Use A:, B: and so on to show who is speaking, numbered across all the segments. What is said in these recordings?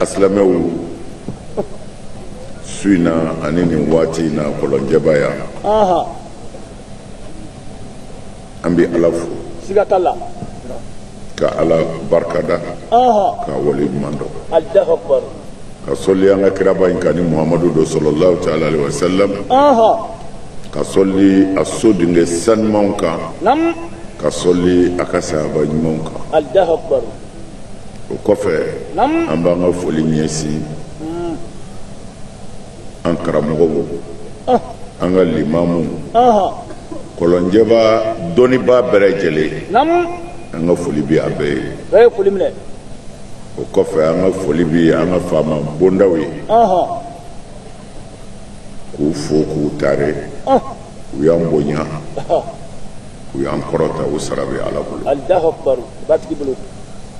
A: asilamɛw su in na ani nin waati in na kɔlɔnjɛba yan an bɛ ala fo siga t'a la ka ala barika da k'a waleɲuman dɔn ka sɔli an ka kiraba in kan ni muhamadu don salalahu taala alayhi wa salam ka sɔli a so denkɛ sanumanw kan ka sɔli a ka sahaba ɲumanw kan o kɔfɛ an b'an ka foli ɲɛsin an karamɔgɔw ah. an ka limamu kɔlɔnjɛba dɔnnibaa bɛɛ lajɛlen an ka foli bɛ a bɛɛ ye o kɔfɛ an ka foli bɛ an ka faama bondaw ye k'u fo k'u tare u y'an bonya u y'an kɔrɔta u sara bɛ ala bolo alahu akubaru batigi bolo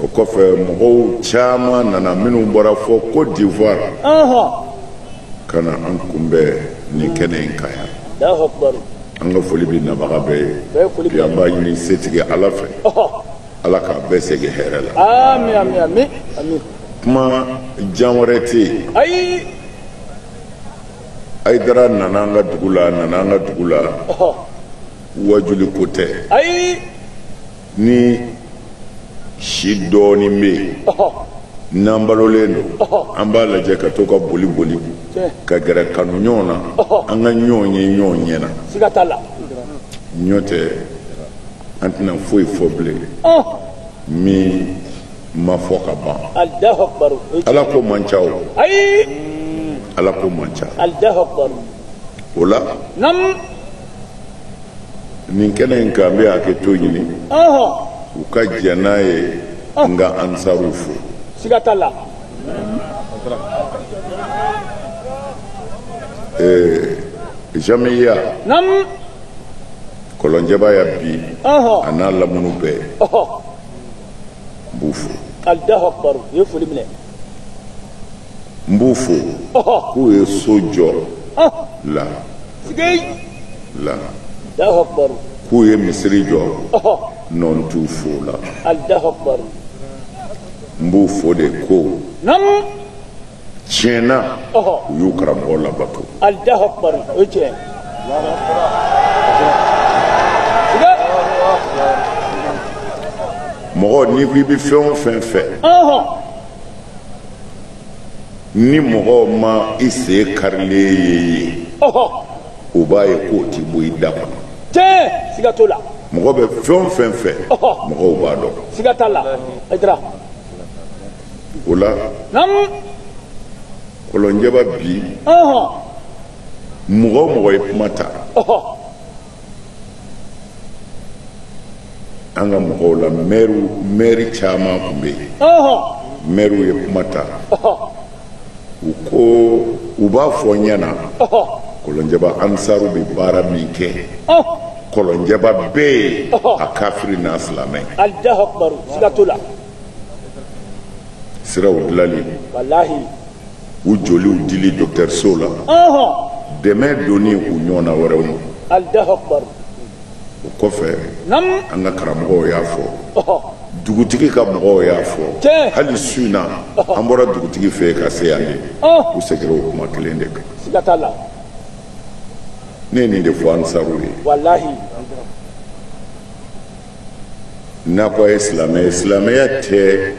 A: o kɔfɛ mɔgɔw caman nana minnu bɔra fo côte d'ivoire ka na an kunbɛn nin kɛnɛ in kan yan alahu akubaru an ka foli bɛ nabaga bɛɛ ye bi an b'a ɲini setigi ala fɛ ala k'a bɛɛ segin hɛrɛ la ami ami ami ami kuma jan wɛrɛ tɛ yen ayi ayidara nana an ka dugu la a nana an ka dugu la ɔhɔ wajuli ko tɛ ayi ni si dɔɔnin bɛ yen ɔhɔ n'an balolen don an b'a lajɛ ka to ka boli boli tiɲɛ ka gɛrɛ kanu ɲɔgɔn na an ka ɲɔgɔn ye ɲɔgɔn ɲɛ na siga t'a la nɔntɛ an tɛna foyi fɔ bilen min ma fɔ ka ban ala ko man ca o ala ko man ca o la nin kɛnɛ in kan n bɛ hakɛto ɲini u ka jɛn n'a ye n ka ansaruw fo siga t'a la jamiya kɔlɔnjɛba yan bi a n'a lamunu bɛɛ n b'u fo alahu akibaru u ye foli minɛ n b'u fo k'u ye so jɔ la la alahu akibaru k'u ye misiri jɔ n t'u fo o la alahu akibaru n b'u fo de ko tiɲɛ na u y'u karamɔgɔ labato alahu akubaru o ye tiɲɛ mɔgɔ n'i ko i bɛ fɛn o fɛn fɛ ni mɔgɔw ma i sen karilen ye yen u b'a ye k'o tɛ bɔ i da kɔnɔ tiɲɛ siga t'o la mɔgɔ bɛ fɛn o fɛn fɛ mɔgɔw b'a dɔn siga t'a la o la kɔlɔnjɛba bi mɔgɔ o mɔgɔ ye kuma ta an ka mɔgɔw la mɛriw mɛri caman tun bɛ yen mɛriw ye kuma ta u ko u b'a fɔ n ɲɛna kɔlɔnjɛba ansaru bɛ baara min kɛ kɔlɔnjɛba bɛɛ ye a kafiri n'a silamɛ siraw dilali u joliw dili dɔkitɛrisow la dɛmɛ donni u ɲɔgɔnna wɛrɛw ma o kɔfɛ an ka karamɔgɔw y'a fɔ dugutigi ka mɔgɔw y'a fɔ hali su in na an bɔra dugutigi fɛ ka se yan de u segira o kuma kelen de kan ne ye nin de fɔ ansaru ye n'a ko a ye silamɛ ye silamɛya tɛ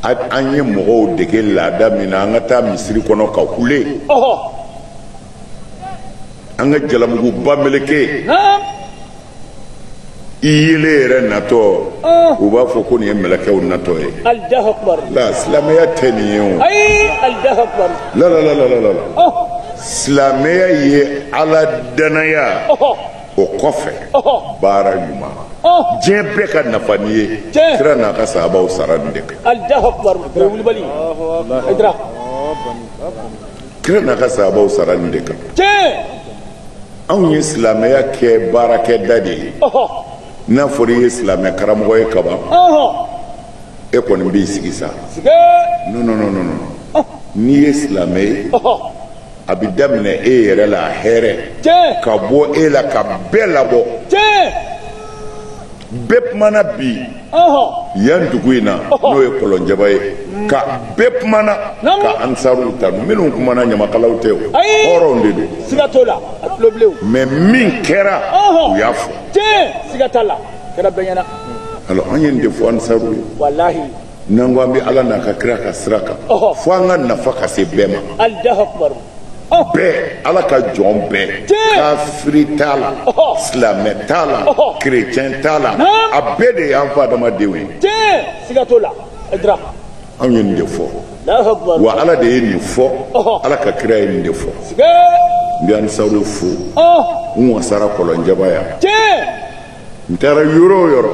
A: an ye mɔgɔw dege laada min na an ka taa misiri kɔnɔ ka kule an ka jalamuguba meleke i yele yɛrɛ natɔ u b'a fɔ ko nin ye mɛlɛkɛw natɔ ye la silamɛya tɛ nin ye o la la la la la la silamɛya ye ala danaya o kɔfɛ baara ɲuman diɲɛ bɛɛ ka nafa nin ye kira n'a ka sahabaw sara nin de kan kira n'a ka sahabaw sara nin de kan anw ye silamɛya kɛ baarakɛda de ye n'a fɔra i ye silamɛ karamɔgɔ ye kaban e kɔni b'i sigi sa non non non non n'i ye silamɛ ye a bɛ daminɛ e yɛrɛ la hɛrɛ ka bɔ e la ka bɛɛ labɔ bɛɛ kumana bi yan dugu in na n'o ye kɔlɔnjɛba ye ka bɛɛ kumana ka ansaru tanu minnu kumana ɲamakalaw tɛ o hɔrɔnw de don mais min kɛra u y'a fɔ alors an ye nin de fɔ ansaru ye n'an ko an bɛ ala n'a ka kira ka sira kan fo an ka nafa ka se bɛɛ ma bɛɛ ala ka jɔn bɛɛ kafiri t'a la silamɛ t'a la kerecɛn t'a la a bɛɛ de y'an fa adamadenw ye anw ye nin de fɔ wa ala de ye nin fɔ ala ka kira ye nin de fɔ n bɛ ansaru fo n wasara kɔlɔnjɛba yan n taara yɔrɔ o yɔrɔ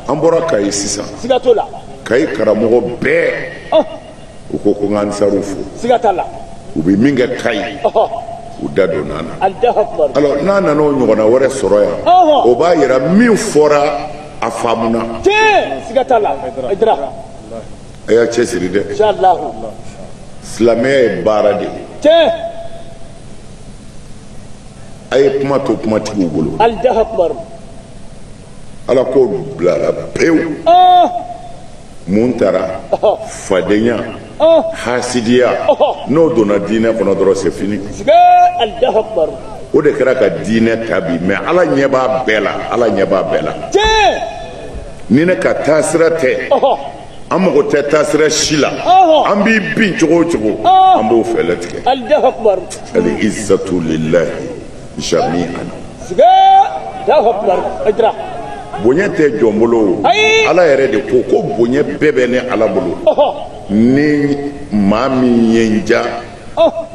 A: an bɔra kayi sisan kayi karamɔgɔ bɛɛ u ko ko n ka ansaruw fo u bɛ min kɛ kayi u da don n'an na alors n'an nana o ɲɔgɔnna wɛrɛ sɔrɔ yan o b'a yira min fɔra a faamuna a y'a cɛsiri dɛ silamɛya ye baara de ye a ye kuma to kumatigiw bolo alako bilara pewu mun tara fadenya hasidiya n'o donna diinɛ kɔnɔ dɔrɔn c'est fini o de kɛra ka diinɛ ta bi mais ala ɲɛ b'a bɛɛ la ala ɲɛ b'a bɛɛ la ni ne ka taasira tɛ an mago tɛ taasira si la an b'i bin cogo o cogo an b'o fɛɛlɛ tigɛ ali izatu lilahi jami'an bonya tɛ jɔn bolo o ala yɛrɛ de ko ko bonya bɛɛ bɛ ne ala bolo ni maa min ye n ja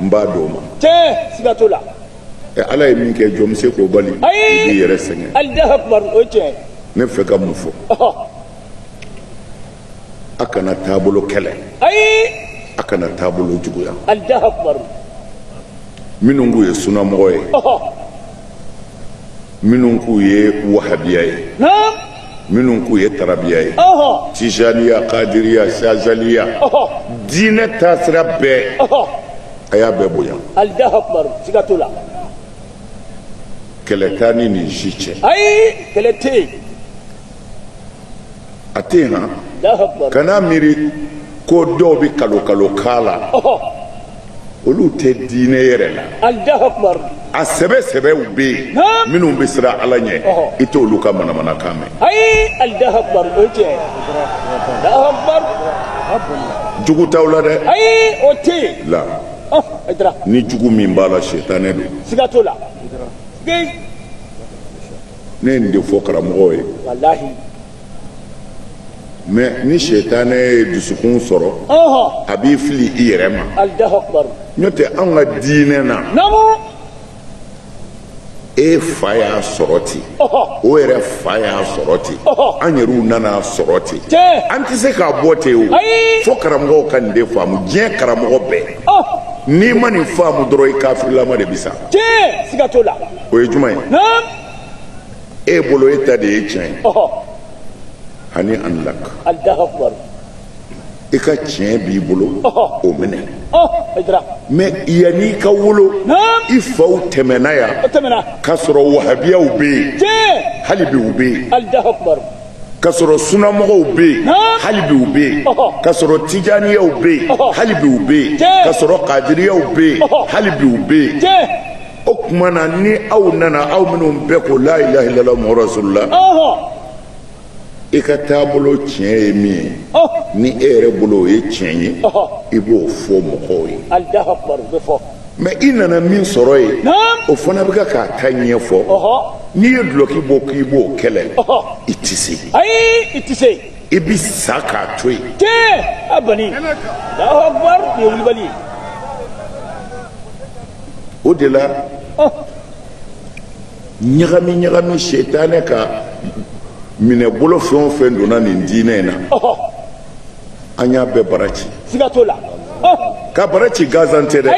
A: n b'a d'o ma ala ye min kɛ jɔn bɛ se k'o bali i b'i yɛrɛ sɛgɛn ne fɛ ka mun fɔ a kana taabolo kɛlɛ a kana taabolo juguya minnu k'u ye sunamɔgɔ ye minnu k'u ye wahabiya ye minnu k'u ye tarabiya ye tijaniya kadiriya sazaliya diinɛ taasira bɛɛ a y'a bɛɛ bonya kɛlɛ t'an ni nin si cɛ ayi kɛlɛ tɛ yen a tɛ yen han kana miiri ko dɔw bɛ kalo kalo k'a la olu tɛ diinɛ yɛrɛ la a sɛbɛ sɛbɛw bɛ yen minnu bɛ siran ala ɲɛ i t'olu ka manamanakan mɛn jugu t'aw la dɛ la ni jugu min b'a la setanɛ don ne ye nin de fɔ karamɔgɔ ye walahi mais ni sɛtanɛ ye dusukun sɔrɔ a b'i fili i yɛrɛ ma n'o tɛ anw ka diinɛ na e fa y'a sɔrɔ ten o yɛrɛ fa y'a sɔrɔ ten an yɛrɛw nan'a sɔrɔ ten an tɛ se k'a bɔ ten o fo karamɔgɔw ka nin de faamu diɲɛ karamɔgɔ bɛɛ n'i ma nin faamu dɔrɔn i kafirilama de bɛ sa o ye jumɛn ye e bolo e ta de ye tiɲɛ ye hani'an lak i ka tiɲɛ b'i bolo o minɛ mɛ yanni i ka wolo i faw tɛmɛna yan k'a sɔrɔ wahabiyaw bɛ yen hali bi u bɛ yen k'a sɔrɔ sunamɔgɔw bɛ yen hali bi u bɛ yen k'a sɔrɔ tijaniyaw bɛ yen hali bi u bɛ yen k'a sɔrɔ kadiriyaw bɛ yen hali bi u bɛ yen o tuma na ni aw nana aw minnu bɛɛ ko la ilaha illallah muhammadu rasulullah i ka taabolo tiɲɛ ye min ye ni e yɛrɛ bolo o ye tiɲɛ ye i b'o fɔ mɔgɔw ye mɛ i nana min sɔrɔ yen o fana bɛ ka k'a ta ɲɛfɔ n'i ye dulɔki bɔ k'i b'o kɛlɛ i tɛ se ayi i tɛ se i bɛ sa k'a to yen tɛ a bani alahu akubar nin ye wulibali ye o de la ɲagami ɲagami setanɛ ka minɛ bolo fɛn o fɛn donna nin diinɛ in na an y'a bɛɛ bara ci siga t'o la ka bara ci gansan tɛ dɛ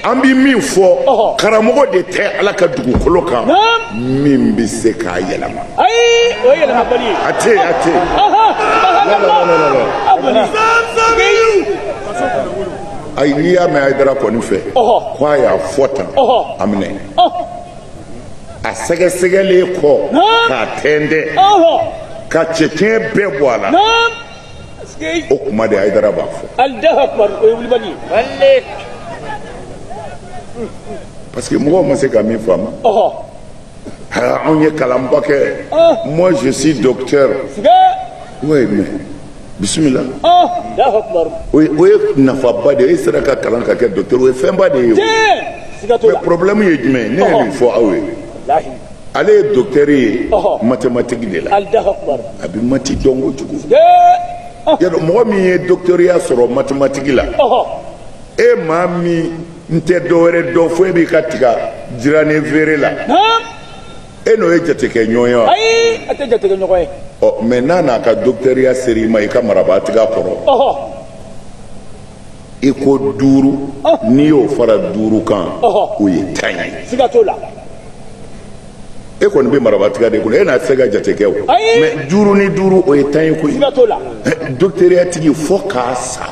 A: an bɛ min fɔ karamɔgɔ de tɛ ala ka dugukolo kan min bɛ se k'a yɛlɛma a tɛ a tɛ ayi n'i y'a mɛn ayidara kɔni fɛ ko a y'a fɔ tan a minɛ a sɛgɛsɛgɛlen kɔ k'a tɛntɛn ka cɛncɛn bɛɛ bɔ a la o kuma de ayidara b'a fɔ parce que mɔgɔw ma se ka min faamu anw ye kalanba kɛ moi je suis docteur oui mais bisimila o ye nafaba de ye e sera ka kalan ka kɛ dɔkitɛri o ye fɛnba de ye o mɛ porobilɛmu ye jumɛn ye ne ye nin fɔ aw ye ale ye dɔkitɛri ye matematiki de la a bɛ mati dɔn kojugu y'a dɔn mɔgɔ min ye dɔkitɛriya sɔrɔ matematiki la e maa min n tɛ dɔwɛrɛ dɔn fo e b'i ka tiga jirannen feere la e n'o ye jatekɛ ɲɔgɔn ye wa. ayi a tɛ jatekɛ ɲɔgɔn ye. ɔ mɛ n'a n'a ka dɔkitɛriya sera i ma i ka marabaatiga kɔrɔ. ɔhɔ. i ko duuru. n'i y'o fara duuru kan. ɔhɔ o ye tan ye. siga t'o la. e kɔni bɛ marabaatiga de kɔnɔ e na se ka jate kɛ o. ayi mɛ duuru ni duuru o ye tan ye koyi. siga t'o la. dɔkitɛriya tigi fo ka sa.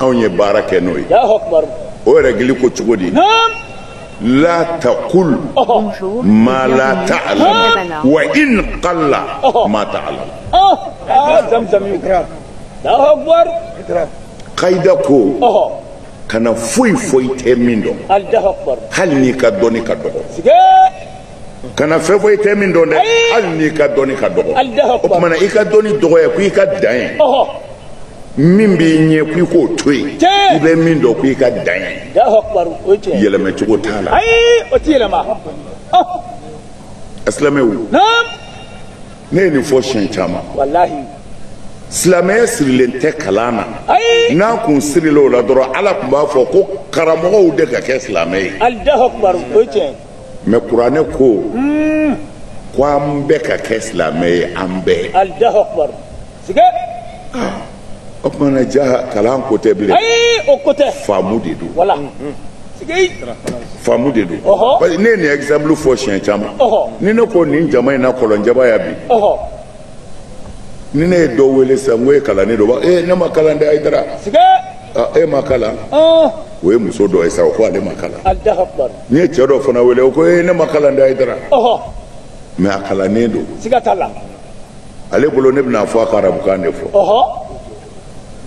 A: anw ye baara kɛ n'o ye o rɛgili ko cogo di la taqul ma la ta'lam wa in qalla ma ta'lam kayida ko kana foyi fɔ i tɛ min dɔn hali n'i ka dɔnni ka dɔgɔ kana fɛn fɔ i tɛ min dɔn dɛ hali n'i ka dɔnni ka dɔgɔ o tuma na i ka dɔnni dɔgɔya ko i ka dan yen min b'i ɲɛ ko i k'o to yen i bɛ min dɔn ko i ka dan yen yɛlɛmɛ cogo t'a la asilamɛw ne ye nin fɔ siɲɛ caman silamɛya sirilen tɛ kalan na n'a kun sirilen o la dɔrɔn ala tun b'a fɔ ko karamɔgɔw de ka kɛ silamɛ ye mɛ kuranɛ ko ko an bɛɛ ka kɛ silamɛ ye an bɛɛ o tuma na ja kalan ko tɛ bilen o ko tɛ faamu de don faamu de don parce que ne ye nin exemple fɔ siɲɛ caman ni ne ko nin jama in na kɔlɔnjaba ya bi ni ne ye dɔ wele sisan n ko e kalannen don ee ne ma kalan dɛ ayidara e ma kalan o ye muso dɔ ye sa o ko ale ma kalan n ye cɛ dɔ fana wele o ko ee ne ma kalan dɛ ayidara mɛ a kalannen don siga t'a la ale bolo ne bɛn'a fɔ a ka arabukan de fɔ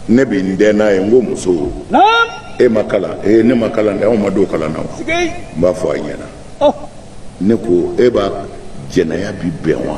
A: ne bɛ n dɛn n'a ye n ko muso e ma kalan ee ne ma kalan dɛ anw ma don kalan na o n b'a fɔ a ɲɛna ne ko e b'a jɛnɛya bi bɛn wa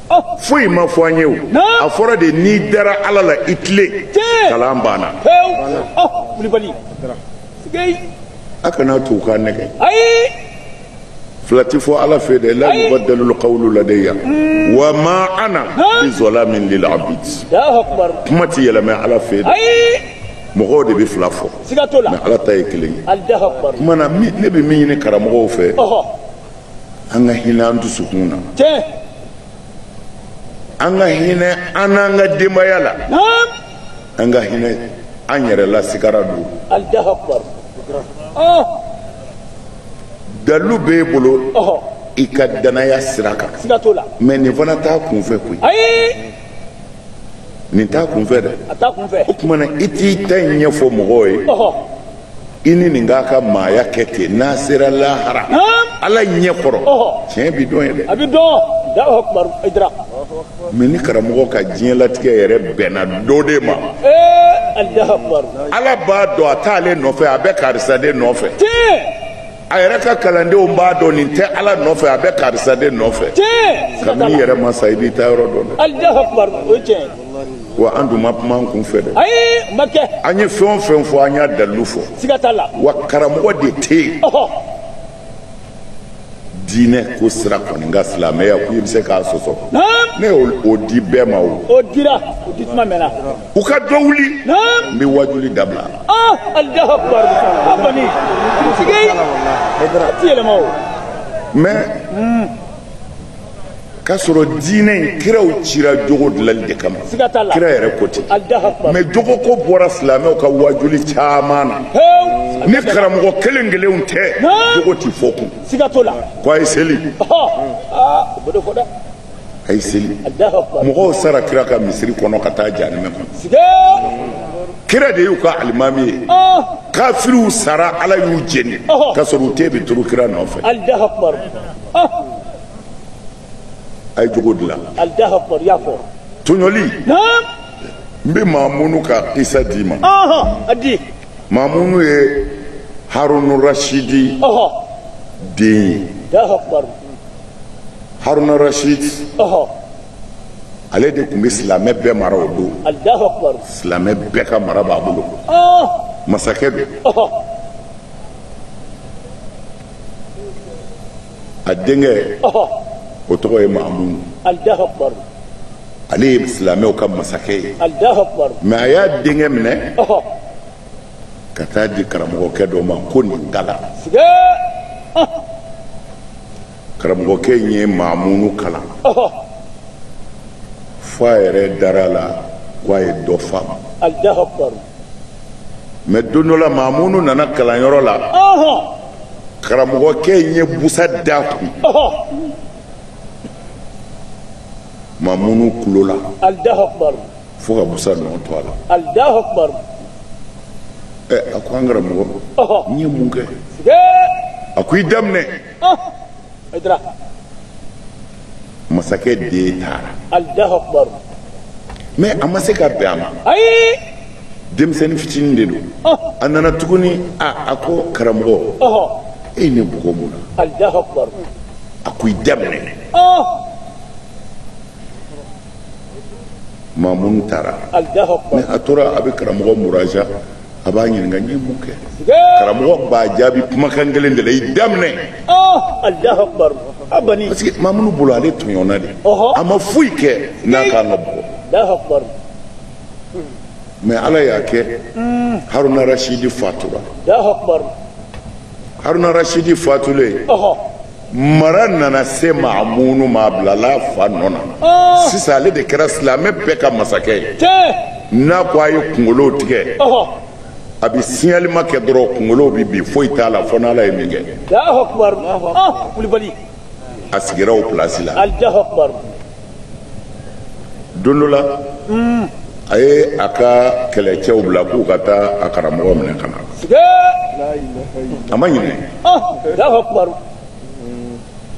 A: foyi ma fɔ an ye o a fɔra de n'i dara ala la i tilen kalan banna a kana to k'a nɛgɛn fila tɛ fɔ ala fɛ dɛ la yubaddalu qawlu ladayya hmm. wa ma ana bi zalamin lil abid kuma tɛ yɛlɛmɛ ala fɛ dɛ mɔgɔw de bɛ fila fɔ mɛ ala ta ye kelen ye kuma na ne bɛ min ɲini karamɔgɔw fɛ an ka hinɛ an dusukun na tiɲɛ an ka hinɛ an n'an ka denbaya la naam an ka hinɛ an yɛrɛ la sigara don alahu akubar ɔɔ dalilu b'e bolo ɔhɔ i ka danaya sira kan siga t'o la mɛ nin fana t'a kunfɛ koyi ayi nin t'a kun fɛ dɛ o tuma na i t'i ta in ɲɛfɔ mɔgɔw ye i ni nin k'a ka maaya kɛ ten n'a sera lahara ala ɲɛ kɔrɔ tiɲɛ bi dɔn yen dɛ mɛ ni karamɔgɔ ka diɲɛlatigɛ yɛrɛ bɛnna dɔ de ma ala b'a dɔn a t'ale nɔfɛ a bɛ karisa de nɔfɛ a yɛrɛ ka kalandenw b'a dɔn nin tɛ ala nɔfɛ a bɛ karisa de nɔfɛ kabini i yɛrɛ ma sa i b'i taa yɔrɔ dɔn dɛ wa an dun ma kuma an kun fɛ dɛ ayi ma kɛ an ye fɛn o fɛn fɔ an y'a dalilu fɔ siga t'a la wa karamɔgɔ de tɛ yen diinɛ ko sira kɔni n ka silamɛya ko i bɛ se k'a sɔsɔ ne y'o di bɛɛ ma o o dira o di tuma mɛnna u ka dɔ wuli n bɛ wajuli dabila mɛ k'a sɔrɔ diinɛ in kiraw cira jogo dilali de kama kira yɛrɛ ko ten mɛ jogo ko bɔra silamɛw ka wajuli caman na ni karamɔgɔ kelen kelenw tɛ jogo ti fɔ tugun ko a ye seli a ye seli mɔgɔw sara kira ka misiri kɔnɔ ka taa jahanama kɔnɔ kira de y'u ka alimami ye kafiriw sara ala y'u jeni ka sɔrɔ u tun bɛ tugu kira nɔfɛ a ye jogo dilan tɔɲɔli n bɛ mamunu ka kisa d'i ma mamunu ye harunu rasidi den ye haruna rasidi ale de tun bɛ silamɛ bɛɛ mara o don silamɛ bɛɛ ka mara b'a bolo masakɛ don a denkɛ o tɔgɔ ye mamunu ale ye silamɛw ka masakɛ ye mɛ a y'a denkɛ minɛ ka taa di karamɔgɔkɛ dɔ ma ko nin kalan karamɔgɔkɛ in ye mamunu kalan fo a yɛrɛ dara a la ko a ye dɔ fa mɛ don dɔ la mamunu nana kalanyɔrɔ la karamɔgɔkɛ in ye busa da kun mamunu kulo la fo ka busa nɔ to a la ɛ a ko an karamɔgɔ n ye mun kɛ a ko i da minɛ masakɛ den taara mɛ a ma se ka bɛn a ma denmisɛnnin fitinin de don a nana tuguni a ko karamɔgɔ e ye ne bugɔ mun na a ko i da minɛ mamunu taara ni a tora a bɛ karamɔgɔ muraja a b'a ɲininka n ye mun kɛ karamɔgɔ b'a jaabi kumakan kelen de la i da minɛ ah, parce que mamunu bolo ale tɔɲɔna de a ma foyi kɛ n'a kan ka bugɔ mɛ ala y'a kɛ haruna rasidi fatura haruna rasidi fatulen mara nana se mamunu ma a bilala a fa nɔ na ah. sisan ale de kɛra silamɛ bɛɛ ka masakɛ ye n'a ko a ye kunkolow tigɛ a bɛ signalement kɛ dɔrɔn kunkolow bɛ bin foyi t'a la fo n'ala ye min kɛ ah. a sigira o pilasi la don dɔ la a ye a ka kɛlɛcɛw bila k'u ka taa a karamɔgɔ minɛ ka na a ma ɲinɛ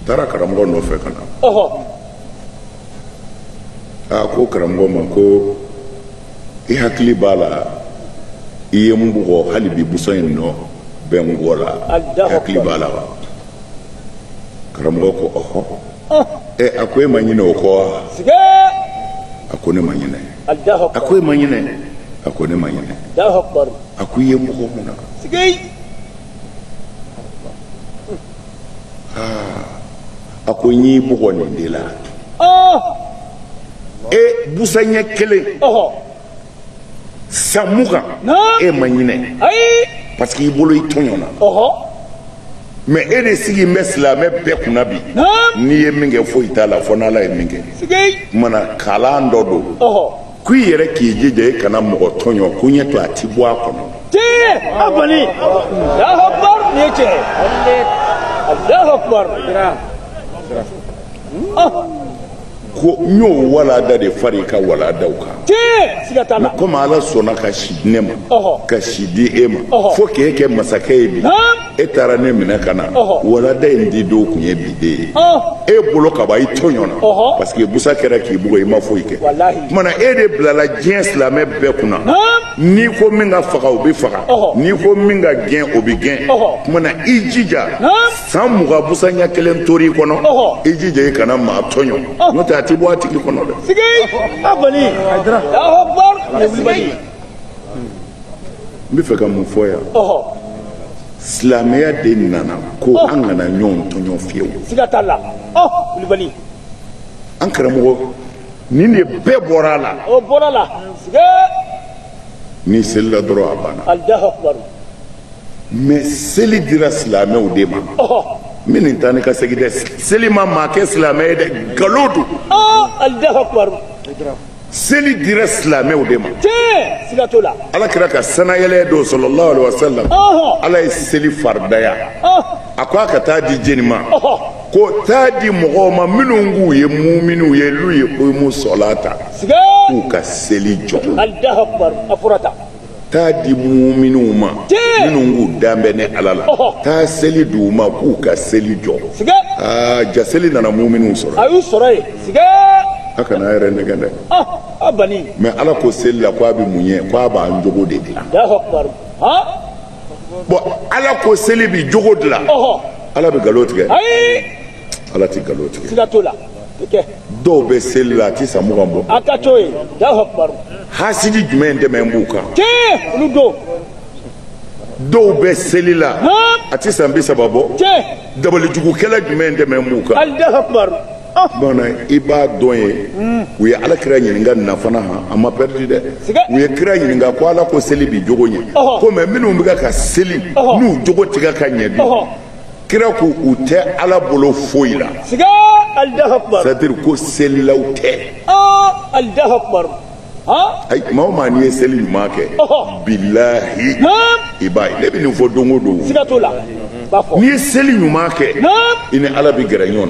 A: taara karamɔgɔ nɔfɛ ka na a ko karamɔgɔ ma ko i hakili b'a la i ye n bugɔ hali bi busan in nɔ bɛ n kɔ la i hakili b'a la wa karamɔgɔ ko ɔhɔ ɛ a ko e ma ɲinɛ o kɔ wa a ko ne ma ɲinɛ a ko e ma ɲinɛ a ko ne ma ɲinɛ a ko i ye n bugɔ mun na a ko n y'i bugɔ nin de la e busan ɲɛ kelen san mugan e ma ɲinɛ parce que i bolo i tɔɲɔna mɛ e de sigi bɛ silamɛ bɛɛ kunna bi n'i ye min kɛ foyi t'a la fo n'ala ye min kɛ mana kalan dɔ don ko i yɛrɛ k'i jija i kana mɔgɔ tɔɲɔ ko ɲɛ to a ti bɔ a kɔnɔ ko n y'o walada de far'i ka waladaw kan komi ala sɔnna ka si di ne ma ka si di e ma fo k'e kɛ masakɛ ye bi e taara ne minɛ ka na walada in di don kun ye bi de ye e bolo ka ban i tɔɲɔna parce que busa kɛra k'i bugɔ i ma foyi kɛ kumana e de bilala diɲɛ silamɛ bɛɛ kunna n'i ko min ka faga o bɛ faga n'i ko min ka gɛn o bɛ gɛn kumana i jija san mugan busa ɲɛ kelen tor'i kɔnɔ i jija i kana maa tɔɲɔ n'o tɛ a ti bɔ a tigi kɔnɔ dɛ n bɛ fɛ ka mun fɔ yan silamɛya de nana ko an kana ɲɔgɔn tɔɲɔ fiyewu an karamɔgɔ nin de bɛɛ bɔra a la n'i selila dɔrɔn a banna mɛ seli dira silamɛw de ma min nin taa ni ka segin dɛ seli ma maa kɛ silamɛ ye dɛ nkalon don seli dira silamɛw de ma ala kira ka sanayɛlɛ don sallallahu alaihi wasallam ala ye seli faridaya a ko a ka taa di jɔni ma ko taa di mɔgɔw ma minnu k'u ye muminiw ye liyukimu salata k'u ka seli jɔ taa di muminw ma minnu k'u da bɛ ne ala la taa seli di u ma k'u ka seli jɔ aa ja seli nana muminw sɔrɔ a y'u sɔrɔ yen a kan'a yɛrɛ nɛgɛn dɛ mɛ ala ko seli la k'a bɛ mun ɲɛ k'a b'an jogo de dilan bɔn ala ko seli bi jogo dilan ala bɛ nkalon tigɛ ala ti nkalon tigɛ siga t'o la kɛ dɔw bɛ seli la a ti san mugan bɔ a ka to ye alahu akubaru hasidi jumɛn tɛmɛ b'u kan tiɲɛ olu don dɔw bɛ seli la a ti san bi saba bɔ tiɲɛ dabalijugukɛla jumɛn tɛmɛ b'u kan alahu akubaru bana i b'a dɔn ye u ye ala kira ɲininka nin na fana han a ma pɛridi dɛ u ye kira ɲininka ko ala ko seli bi jogo ɲɛ ko mais minnu bɛ ka seli n'u jogo ti ka ɲɛ bi kira ko u tɛ ala bolo foyi la siga alahu akubar c'est-à-dire ko selilaw tɛ aa alahu akubar ayi maa o maa n'i ye seli ɲuman kɛ bilahi i b'a ye ne bɛ nin fɔ don o don siga t'o la n'i ye seli ɲuman kɛ i ni ala bɛ gɛrɛ ɲɔgɔn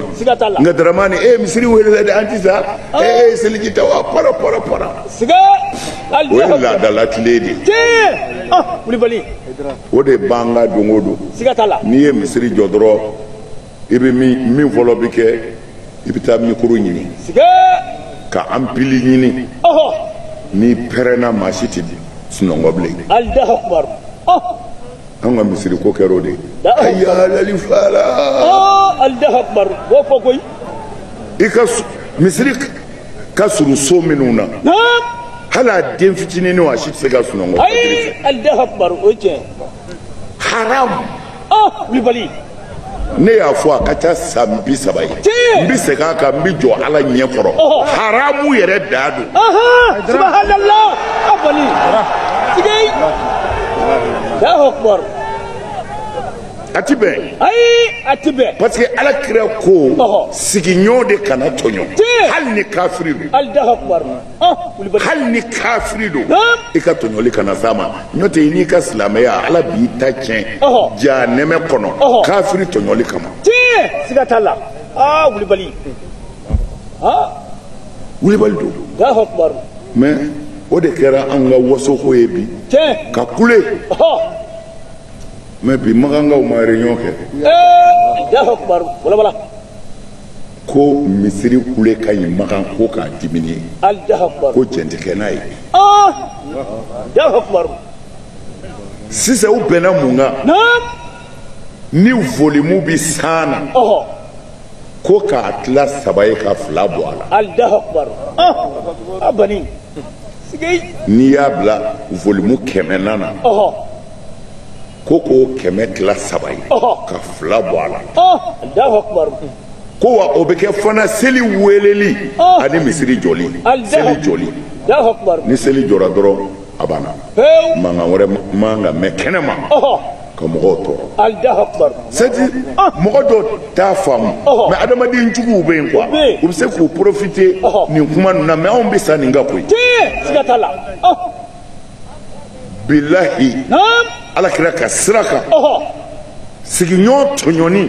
A: na nka daramani e misiri welela dɛ an ti sa e ye seliji ta wa para para para o ye laada latilen de ye wulibali o de b'an kan don o don n'i ye misiri jɔ dɔrɔn i bɛ min fɔlɔ bɛ kɛ i bɛ taa mikoro ɲini ka anpili ɲini n'i pɛrɛnna maa si tɛ sunɔgɔ bilen an ka misiri ko kɛra o de ye ayalali fara i ka misiri ka surun so minnu na hali a den fitininw a si tɛ se ka sunɔgɔ ayi alahu akubaru o ye tiɲɛ ye haram ah wulibali ne y'a fɔ a ka ca san bi saba ye Tiɲɛ. n bɛ segin a kan n bɛ jɔ ala ɲɛ kɔrɔ Ɔhɔ. haramu yɛrɛ dan don aha subahanala a bali sigei alahu akubaru a ti bɛn ayi a ti bɛn parce que ala kira ko sigiɲɔgɔn de kana tɔɲɔ hali ni kafiri don hali ni kafiri don i ka tɔɲɔli kana s'a ma n'o tɛ i n'i ka silamɛya ala b'i ta tiɲɛ jahanama kɔnɔ kafiri tɔɲɔli kama siga t'a la aa wulibali wulibali don mais o de kɛra an ka wasoko ye bi ka kule mais bi makankaw ma réunion kɛ ko misiri kule ka ɲi makan ko k'a diminuer ko jɛn tɛ kɛ n'a ye sisan u bɛnna mun kan ni volimu bi cent na ko k'a tila saba ye ka fila bɔ a la n'i y'a bila volimu kɛmɛ na na ko k'o kɛmɛ tila saba ye ka fila bɔ a la ko wa o bɛ kɛ fana seli weleli ani misiri jɔli seli jɔli ni seli jɔra dɔrɔn a banna mankan wɛrɛ man ka mɛn kɛnɛ ma ka mɔgɔw tɔɔrɔ seti mɔgɔ dɔ t'a faamu mais adamaden juguw bɛ yen quoi u bɛ se k'u profiter nin kuma ninnu na mais anw bɛ sa nin kan koyi bilahi ala kira ka sira kan sigiɲɔgɔn tɔɲɔni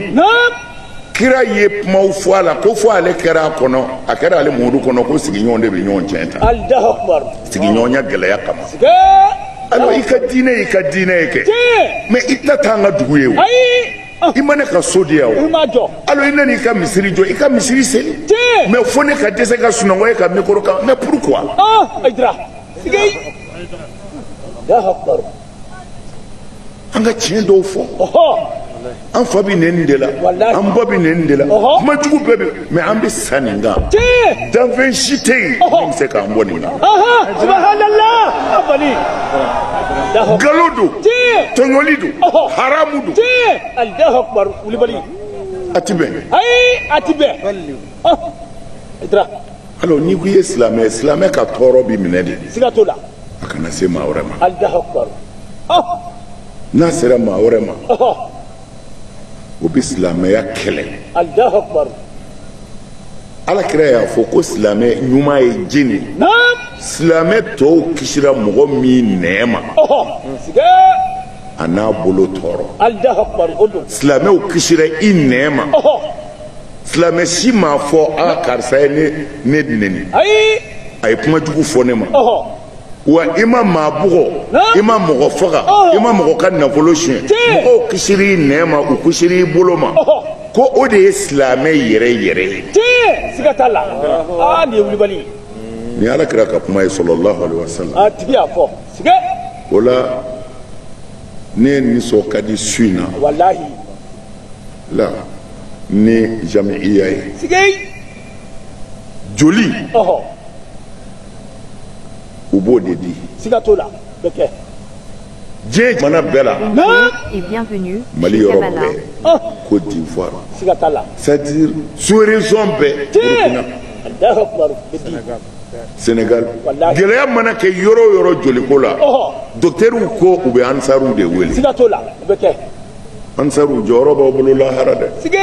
A: kira ye kumaw fɔ a la ko fo ale kɛra a kɔnɔ a kɛra ale miiri kɔnɔ ko sigiɲɔgɔn de bɛ ɲɔgɔn tiɲɛ ta sigiɲɔgɔnya gɛlɛya kama alors i ka diinɛ y'i ka diinɛ ye kɛ mais i tɛna taa an ka dugu ye o i ma ne ka so di yan o alors i nana i ka misiri jɔ i ka misiri seli mais fo ne ka dɛsɛ ka sunɔgɔ e ka mikoro kan mais pourquoi sigey ya akbar an ka tiɲɛ dɔw fɔ an fa bɛ nɛni de la an ba bɛ nɛni de la kuma jugu bɛɛ bɛ mɛ an bɛ sa nin kan danfɛn si tɛ yen min bɛ se k'an bɔ nin na nkalon don tɔɲɔli don haramu don a ti bɛn ayi a ti bɛn i tira alors n'i ko i ye silamɛ ye silamɛ ka tɔɔrɔ b'i minɛ de siga t'o la a kana se maa wɛrɛ ma allahu akbar n'a sera maa wɛrɛ ma o bɛ silamɛya kɛlɛ allahu akbar ala kira y'a fɔ ko silamɛ ɲuman ye jɔni silamɛ tɔw kisira mɔgɔ min nɛn ma an'a bolo tɔɔrɔ silamɛw kisira i nɛn ma silamɛ si m'a fɔ a karisa ye ne de neni ayi a ye kuma jugu fɔ ne ma wa i ma maa bugɔ i ma mɔgɔ faga i ma mɔgɔ ka nafolo tiɲɛ mɔgɔw kisir'i nɛn ma u kisir'i bolo ma ko o de ye silamɛ yɛrɛ yɛrɛ ye tiɲɛ siga t'a la aa nin ye wulibali ye nin ye ala kira ka kuma ye salallahu alaihi wasallam a tigi y'a fɔ siga t'o la ne nisɔn ka di su in na walahi la ni jamiya ye joli u b'o de di siga t'o la bɛ kɛ diɲɛ jamana bɛɛ la mali yɔrɔ bɛɛ oh Côte d'Ivoire c'est-à-dire sous région bɛɛ Burkina Sénégal gɛlɛya mana kɛ yɔrɔ o yɔrɔ joliko la docteurs ko u bɛ ansariw de wele ansaruw jɔyɔrɔ b'aw bolo lahara dɛ sige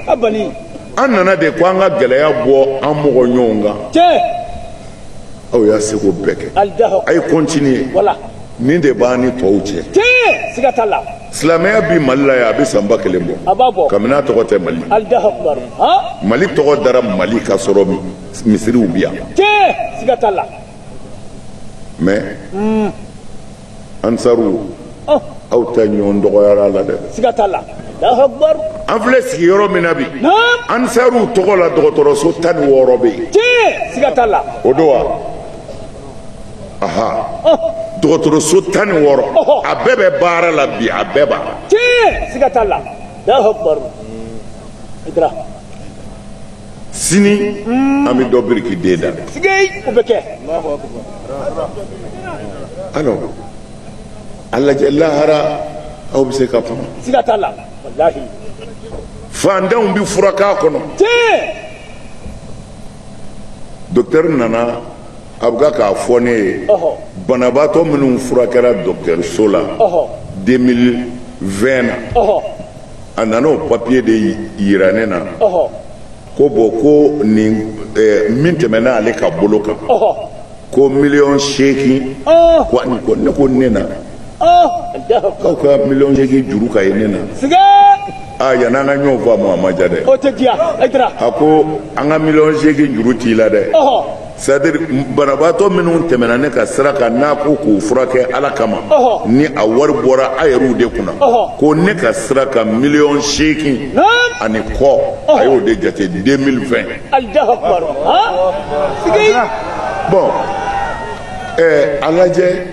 A: a bali an nana de ko an ka gɛlɛya bɔ an mɔgɔ ɲɔgɔn kan tiɲɛ aw y'a seko bɛɛ kɛ alidaho a ye kɔntiniye wala nin de b'an ni tɔw cɛ tiɲɛ siga t'a la silamɛya bi mali la yan a bɛ san ba kelen bɔ a b'a bɔ kabini a tɔgɔ tɛ mali alidaho kumaru han mali tɔgɔ dara mali ka sɔrɔ mi- misiriw bi yan tiɲɛ siga t'a la mɛ ansaru oh. aw ta ɲɔgɔn dɔgɔyara la dɛ siga t'a la an filɛ sigi yɔrɔ min na bi ansaruw tɔgɔ la dɔgɔtɔrɔso tan ni wɔɔrɔ bɛ yen siga t'a la o don wa aha oh. dɔgɔtɔrɔso tan ni wɔɔrɔ oh. a bɛɛ bɛ baara la bi a bɛɛ b'a la siga t'a la sini an bɛ dɔ birikiden da la. o bɛ kɛ. alors a lajɛ lahara aw bɛ se ka kuma. siga t'a la walahi. fantanw bɛ furak'a kɔnɔ. tiɲɛ. docteur nana a bɛ kan k'a fɔ ne ye. banabaatɔ minnu furakɛra docteur so la. 2020 na. a nana o papiye de yira ne na ko bɔn ko nin eh, min tɛmɛna ale ka bolo kan ko miliyɔn seegin ah. ko ani kɔ ne ko ne na ah. k'aw ka miliyɔn seegin juru ka ye ne na aa ah, yan'an ka ɲɔgɔn faamu a ma ja dɛ a ko an ka miliyɔn seegin juru t'i la dɛ c'est-à-dire banabaatɔ minnu tɛmɛna ne ka sira kan n'a ko k'u furakɛ ala kama ni a wari bɔra a yɛrɛw de kunna ko ne ka sira kan miliyɔn seegin ani kɔ a y'o de jate 2020 bɔn ɛɛ a lajɛ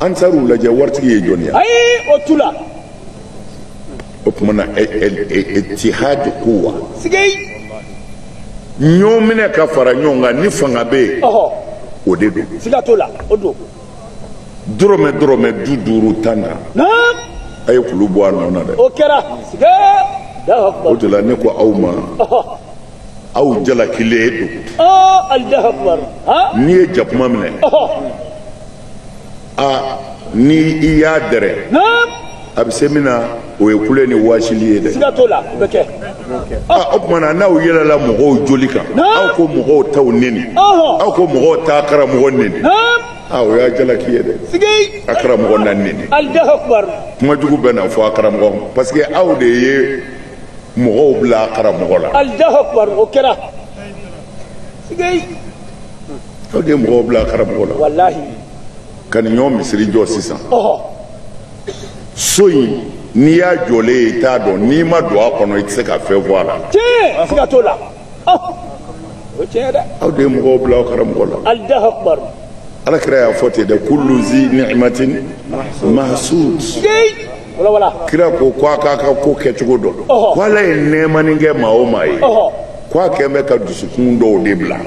A: an taar'u lajɛ waritigi ye jɔn ye ayi o tu la o tuma na etihad kuwa ɲɔgɔn minɛ ka fara ɲɔgɔn kan ni fanga bɛ yen o de don siga t'o la o don dɔrɔmɛ dɔrɔmɛ du duuru tan tan a ye kulu bɔ a nɔ na dɛ o kɛra o de la ne ko aw ma aw jalakilen don n'i ye jakuma minɛ aa ni i y'a dɛrɛ a bɛ se min na o ye kule ni waasili ye dɛ siga t'o la o bɛ kɛ aa o tuma na n'aw yɛlɛla mɔgɔw joli kan aw ka mɔgɔw taw neni aw ka mɔgɔw ta karamɔgɔ neni aa o y'a jalaki ye dɛ a karamɔgɔ na neni kuma jugu bɛ na fɔ a karamɔgɔ ma parce que aw de ye mɔgɔw bila a karamɔgɔ la o kɛra aw de ye mɔgɔw bila a karamɔgɔ la ka nin ɲɔgɔn misiri jɔ sisan so in n'i y'a jɔlen ye i t'a dɔn n'i ma don a kɔnɔ i tɛ se ka fɛn fɔ a la. tiɲɛ siga t'o la o tiɲɛ ye dɛ. aw de ye mɔgɔw bila aw karamɔgɔ la. alahu akubar. ala kira y'a fɔ ten dɛ kulu zi ni'imatin mahsud. kira ko ko a k'a ka ko kɛcogo dɔ dɔn. ko ala ye nɛɛmani kɛ maa o maa ye. ko a kɛlen bɛ ka dusukun dɔw de bila.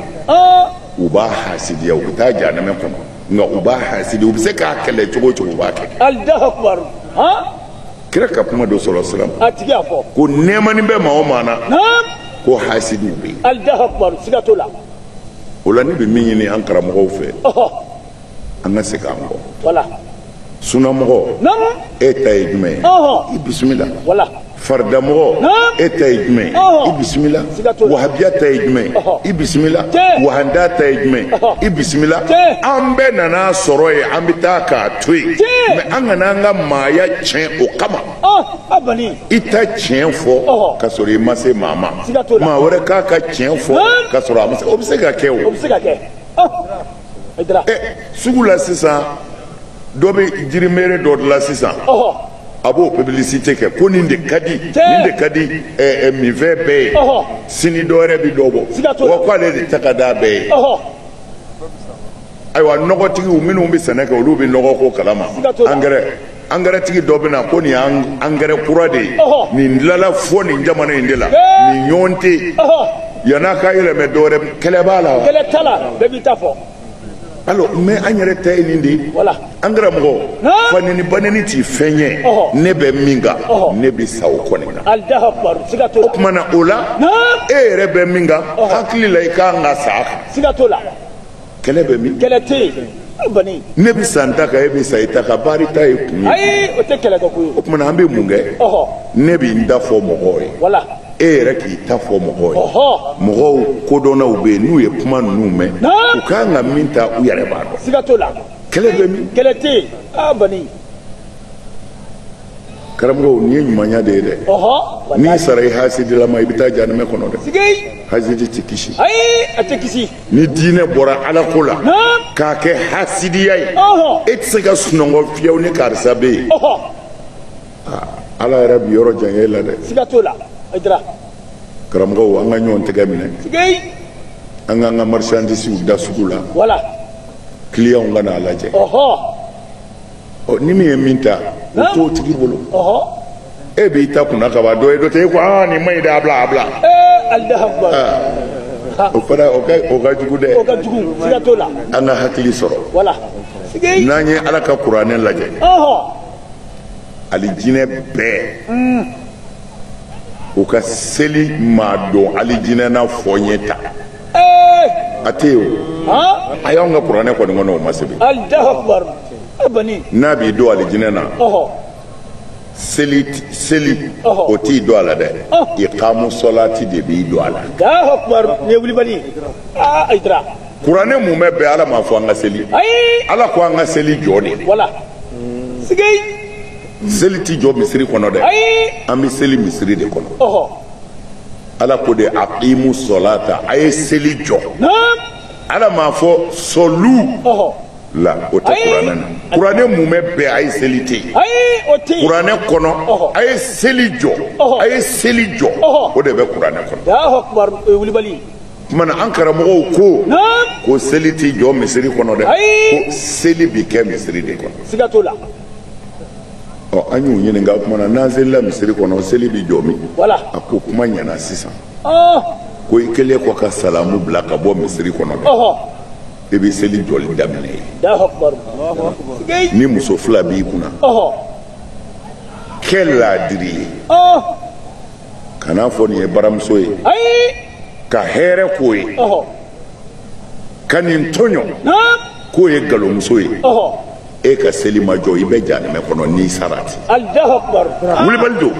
A: u b'a hasidiya u bɛ taa janamɛ kɔnɔ nka u b'a hasidi u bɛ se k'a kɛlɛ cogo o cogo u b'a kɛ alahu akubaru han kira ka kuma don sɔrɔ siran a tigi y'a fɔ ko nɛɛmani bɛ maa o maa na naam ko hasidiw bɛ yen alahu akubaru siga t'o la o la ne bɛ min ɲini an karamɔgɔw fɛ ɔhɔ an ka segin an kɔ wala sunamɔgɔ e ta ye jumɛn ye i bisimila faridamɔgɔ e ta ye jumɛn ye i bisimila wahabiya ta ye jumɛn ye i bisimila wahanda ta ye jumɛn ye i bisimila an bɛɛ nan'a sɔrɔ yen an bɛ taa k'a to yen mais an kana an ka maaya tiɲɛ o kama i ta tiɲɛ fɔ ka sɔrɔ i ma se maa ma maa wɛrɛ k'a ka tiɲɛ fɔ ka sɔrɔ a ma se o bɛ se ka kɛ o. sugu la sisan dɔ bɛ jirimeere dɔ dilan sisan a b'o publicité kɛ ko nin de ka di nin de ka di minfɛn bɛɛ ye sini dɔ wɛrɛ bɛ dɔ bɔ wa k'ale de ta ka d'a bɛɛ ye ayiwa nɔgɔtigiw minnu bɛ sɛnɛ kɛ olu bɛ nɔgɔ ko kalama angɛrɛ angɛrɛtigi dɔ bɛ na ko nin ye angɛrɛ kura de ye nin dilala fo nin jamana in de la nin ɲɔgɔn tɛ yen yann'a ka yɛlɛmɛ dɔwɛrɛ kɛlɛ b'a la wa kɛlɛ t'a la bɛɛ b'i ta fɔ alors mɛ an yɛrɛ ta ye nin de ye an karamɔgɔ fanɛni banɛni t'i fɛn ye ne bɛ min kan ne bɛ sa o kɔni na o tuma na o la e yɛrɛ bɛ min kan hakili la i k'an ka sa a kan kɛlɛ bɛ min kɛlɛ tɛ yen bani ne bɛ sa n ta kan e bɛ sa i ta kan baari ta ye kun ye ayi o tɛ kɛlɛ kɛ ko ye o tuma na an bɛ mun kɛ ɔhɔ ne bɛ n ta fɔ mɔgɔw ye wala e yɛrɛ k'i ta fɔ mɔgɔw ye ɔhɔ mɔgɔ kodɔnnaw bɛ yen n'u ye kuma ninnu mɛn Naa. u ka kan ka min ta u yɛrɛ b'a dɔn siga t'o la kɛlɛ bɛ min kɛlɛ tɛ yen aa bani karamɔgɔw nin ye ɲumanya de ye dɛ ɔhɔ n'i sara i hasidilama i bɛ taa janɛmɛ kɔnɔ dɛ sigi hasidi tɛ kisi ayi a tɛ kisi ni diinɛ bɔra alako la k'a kɛ hasidiya ye e tɛ se ka sunɔgɔ fiyewu ni karisa bɛ yen ala yɛrɛ b'i yɔrɔ janya i la dɛ siga t'o la a dira karamɔgɔw an ka ɲɔgɔn tɛgɛ minɛ an k'an ka marchandisiw da sugu la wala kiliyanw ka n'a lajɛ ɔ ni min ye min ta o t'o tigi bolo e b'i ta kunna ka ban dɔ ye dɔ tɛ e ko aa nin man ɲi dɛ a bila a bila o fana o ka o ka jugu dɛ o ka jugu siga t'o la an ka hakili sɔrɔ wala n'an ye ala ka kuranɛ lajɛ alijinɛ bɛɛ mm. u ka seli maa don alijinɛ na fɔ n ye ta a tɛ yen o ayi anw ka kuranɛ kɔni kɔnɔ o ma sɛbɛn n'a b'i don alijinɛ na seli seli o t'i don a la dɛ iqamu solati de b'i don a la kuranɛ mumɛ bɛɛ ala m'a fɔ an ka seli ala ko an ka seli jɔ de seli tɛ jɔ misiri kɔnɔ dɛ an bɛ seli misiri de kɔnɔ ala ko de aqimu solata a ye seli jɔ ala m'a fɔ sɔlu la o tɛ kuranɛ na kuranɛ mumɛ bɛɛ a ye seli tɛ yen kuranɛ kɔnɔ a ye seli jɔ a ye seli jɔ o de bɛ kuranɛ kɔnɔ o tuma na an karamɔgɔw ko ko seli tɛ jɔ misiri kɔnɔ dɛ ko seli bɛ kɛ misiri de kɔnɔ ɔ an y'u ɲininka o tuma na n'an selila misiri kɔnɔ seli bɛ jɔ min a ko kuma ɲɛna sisan ko i kɛlen kɔ ka salamu bila ka bɔ misiri kɔnɔ dɛ i bɛ seli jɔli daminɛ yen ni muso fila b'i kunna kɛ laadiri ye kan'a fɔ nin ye baramuso ye ka hɛrɛ k'o ye ka nin tɔɲɔ k'o ye galomuso ye. e ka seli ma jɔ i bɛ janɛmɛ kɔnɔ n'i sara ten wulibali don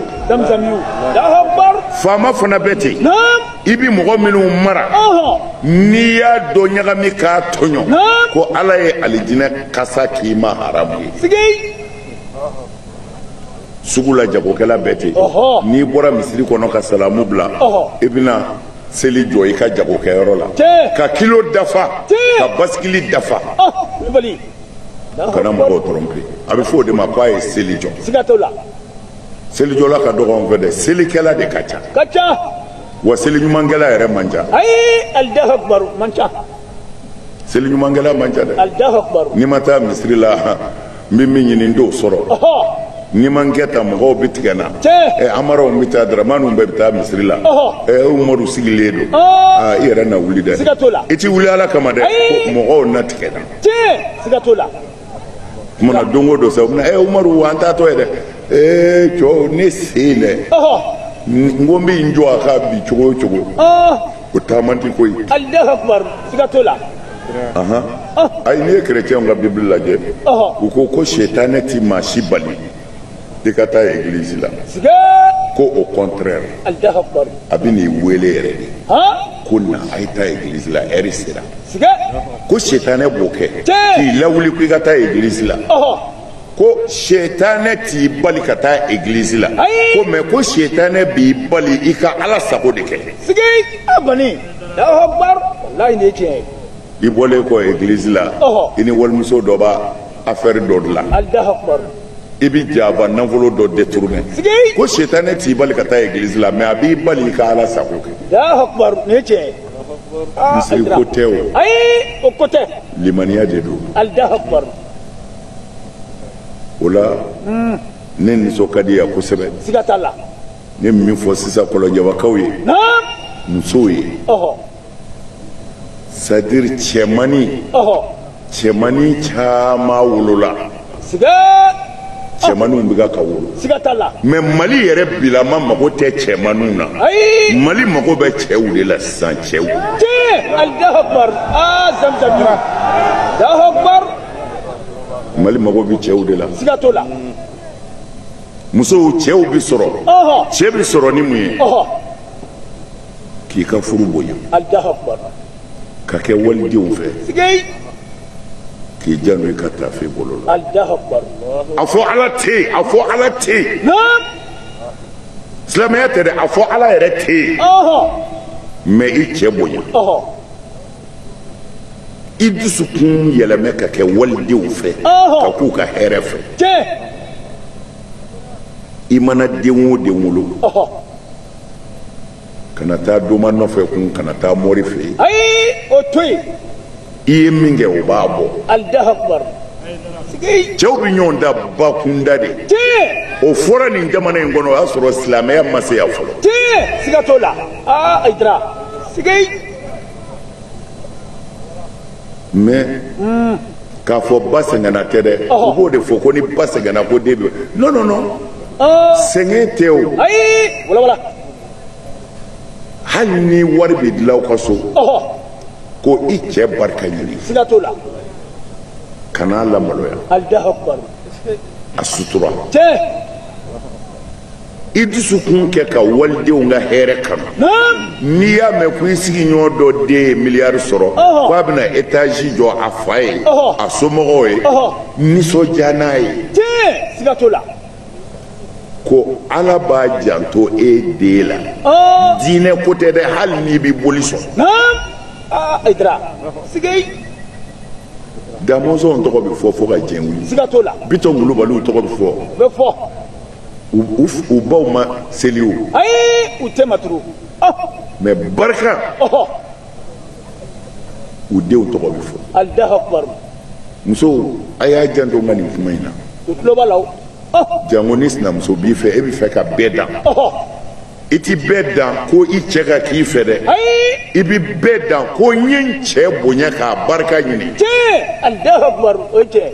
A: faama fana bɛ ten i bi mɔgɔ minnu mara n'i y'a dɔ ɲagami k'a tɔɲɔ ko ala ye alijinɛ kasa k'i ma haramu ye sugu la jagokɛla bɛ ten n'i bɔra misiri kɔnɔ ka salamu bila i bɛna seli jɔ i ka jagokɛyɔrɔ la ka kilo dafa ka basikili dafa kana mɔgɔw tɔrɔmpe a bɛ fɔ o de ma ko a ye seli jɔ siga t'o la selijɔla ka dɔgɔ an fɛ dɛ selikɛla de ka ca ka ca wa seli ɲumankɛla yɛrɛ man ca ayi alahu akubaru man ca seli ɲumankɛla man ca dɛ alahu akubaru ni n ma taa misiri la n bɛ min ɲini n t'o sɔrɔ ɔhɔ ni n ma n kɛ tan mɔgɔw bɛ tigɛ n na Tiɲɛ. ɛ amaraw bɛ taa daramaniw bɛɛ bɛ taa misiri la Ɔhɔ. ɛ umaru sigilen don Ɔɔ. aa i yɛrɛ na wuli dɛ Siga t'o la. i t'i wuli ala kama dɛ Ayi. ko mɔgɔw na tigɛ n na tiɲɛ siga t'o la kuma na don o don sa u bɛna ɛ umaru wa an t'a to yen dɛ ee cɛw ne sen dɛ n ko n bɛ n jɔ a kan bi cogo o cogo o taama tɛ ko ye. alahu akubar siga t'o la. ayi n'i ye kerecɛnw ka bibili lajɛ u ko ko setanɛ ti maa si bali. i ka taa egilizi la ko au contraire a bɛ n'i wele yɛrɛ de ko na a ye taa egilizi la lɛri sera ko setanɛ b'o kɛ k'i lawuli ko i ka taa egilizi la ko setanɛ t'i bali ka taa egilizi la ko mɛ ko setanɛ b'i bali i ka ala sago de kɛ i bɔlen kɔ egilizi la i ni walimuso dɔ b'a affaire dɔ de la i bɛ jama nafolo dɔ détourner ko sitanɛ t'i bali ka taa église la mais a b'i bali i ka ala sago kɛ misiri ko tɛ o ayi o ko tɛ limaniya de don o la ne nisɔn ka di yan kosɛbɛ siga t'a la ne min fɔ sisan kɔlɔnjɛbakaw ye musow ye sadiri cɛmani cɛmani caman wolola cɛmaniw bɛ ka wolo mɛ mali yɛrɛ bilama mago tɛ cɛmaniw na mali mago bɛ cɛw de la sisan cɛw mali mago bɛ cɛw de la musow cɛw bɛ sɔrɔ cɛ bɛ sɔrɔ ni mun ye k'i ka furu bonya ka kɛ walidenw fɛ k'i janto i ka taafe bolo la a fɔ ala tɛ yen a fɔ ala tɛ yen silamɛya tɛ dɛ a fɔ ala yɛrɛ tɛ yen mɛ i cɛ bonya i dusukun yɛlɛmɛ ka kɛ walidenw fɛ ka k'u ka hɛrɛ fɛ i mana den o den wolo kana taa doma nɔfɛ kun kana taa mori fɛ yen ayi o to yen i ye min kɛ o b'a bɔ alahu akubar sigi cɛw bɛ ɲɔgɔn dan bakunda de tiɲɛ o fɔra nin jamana in kɔnɔ o y'a sɔrɔ silamɛya ma se yan fɔlɔ tiɲɛ siga t'o la aa ayidara sigi mais k'a fɔ ba sɛgɛnna tɛ dɛ u b'o de fɔ ko ni ba sɛgɛnna ko den bɛ non non non oh. sɛgɛn tɛ o hali ni wari bɛ dilan aw ka so ko i cɛ barika ɲini kan'a lamaloya a sutura i dusukun kɛ ka walidenw ka hɛrɛ kanu n'i y'a mɛn ko i sigiɲɔgɔn dɔ den ye miliyari sɔrɔ ko a bɛna etazi jɔ a fa ye a somɔgɔw ye nisɔndiya n'a ye ko ala b'a janto e den la diinɛ ko tɛ dɛ hali n'i bɛ boli sɔn damɔnzɔn tɔgɔ bɛ fɔ fo ka diɲɛ wuli bitɔn kulubaliw tɔgɔ bɛ fɔ u baw ma seli o ayi u tɛ maturu mɛ barika u denw tɔgɔ bɛ fɔ alahu akubaru musow a y'a janto n ka nin kuma in na u tulo b'a la o jango ni sinamuso b'i fɛ e bɛ fɛ ka bɛɛ dan i ti bɛɛ dan ko i cɛ ka k'i fɛ dɛ i bi bɛɛ dan ko n ye n cɛ bonya k'a barika ɲini tiɲɛ alahu akubaru o ye tiɲɛ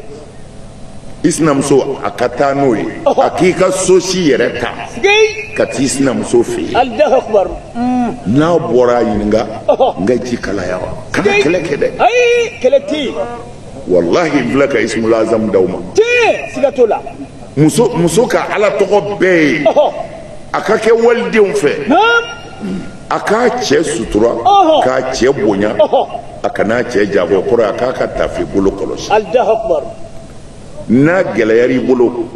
A: i sinamuso a ka taa n'o ye a k'i ka so si yɛrɛ ta ka t'i sinamuso fɛ yen n'a bɔra a ɲininka n ka ji kalaya wa kana kɛlɛ kɛ dɛ kɛlɛ tɛ yen walahi n filɛ ka ismul azam d'aw ma siga t'o la muso muso ka ala tɔgɔ bɛɛ ye a ka kɛ walidenw fɛ a k'a cɛ sutura k'a cɛ bonya a kan'a cɛ jabɔ kɔrɔ a k'a ka tafe bolo kɔlɔsi n'a gɛlɛyara i bolo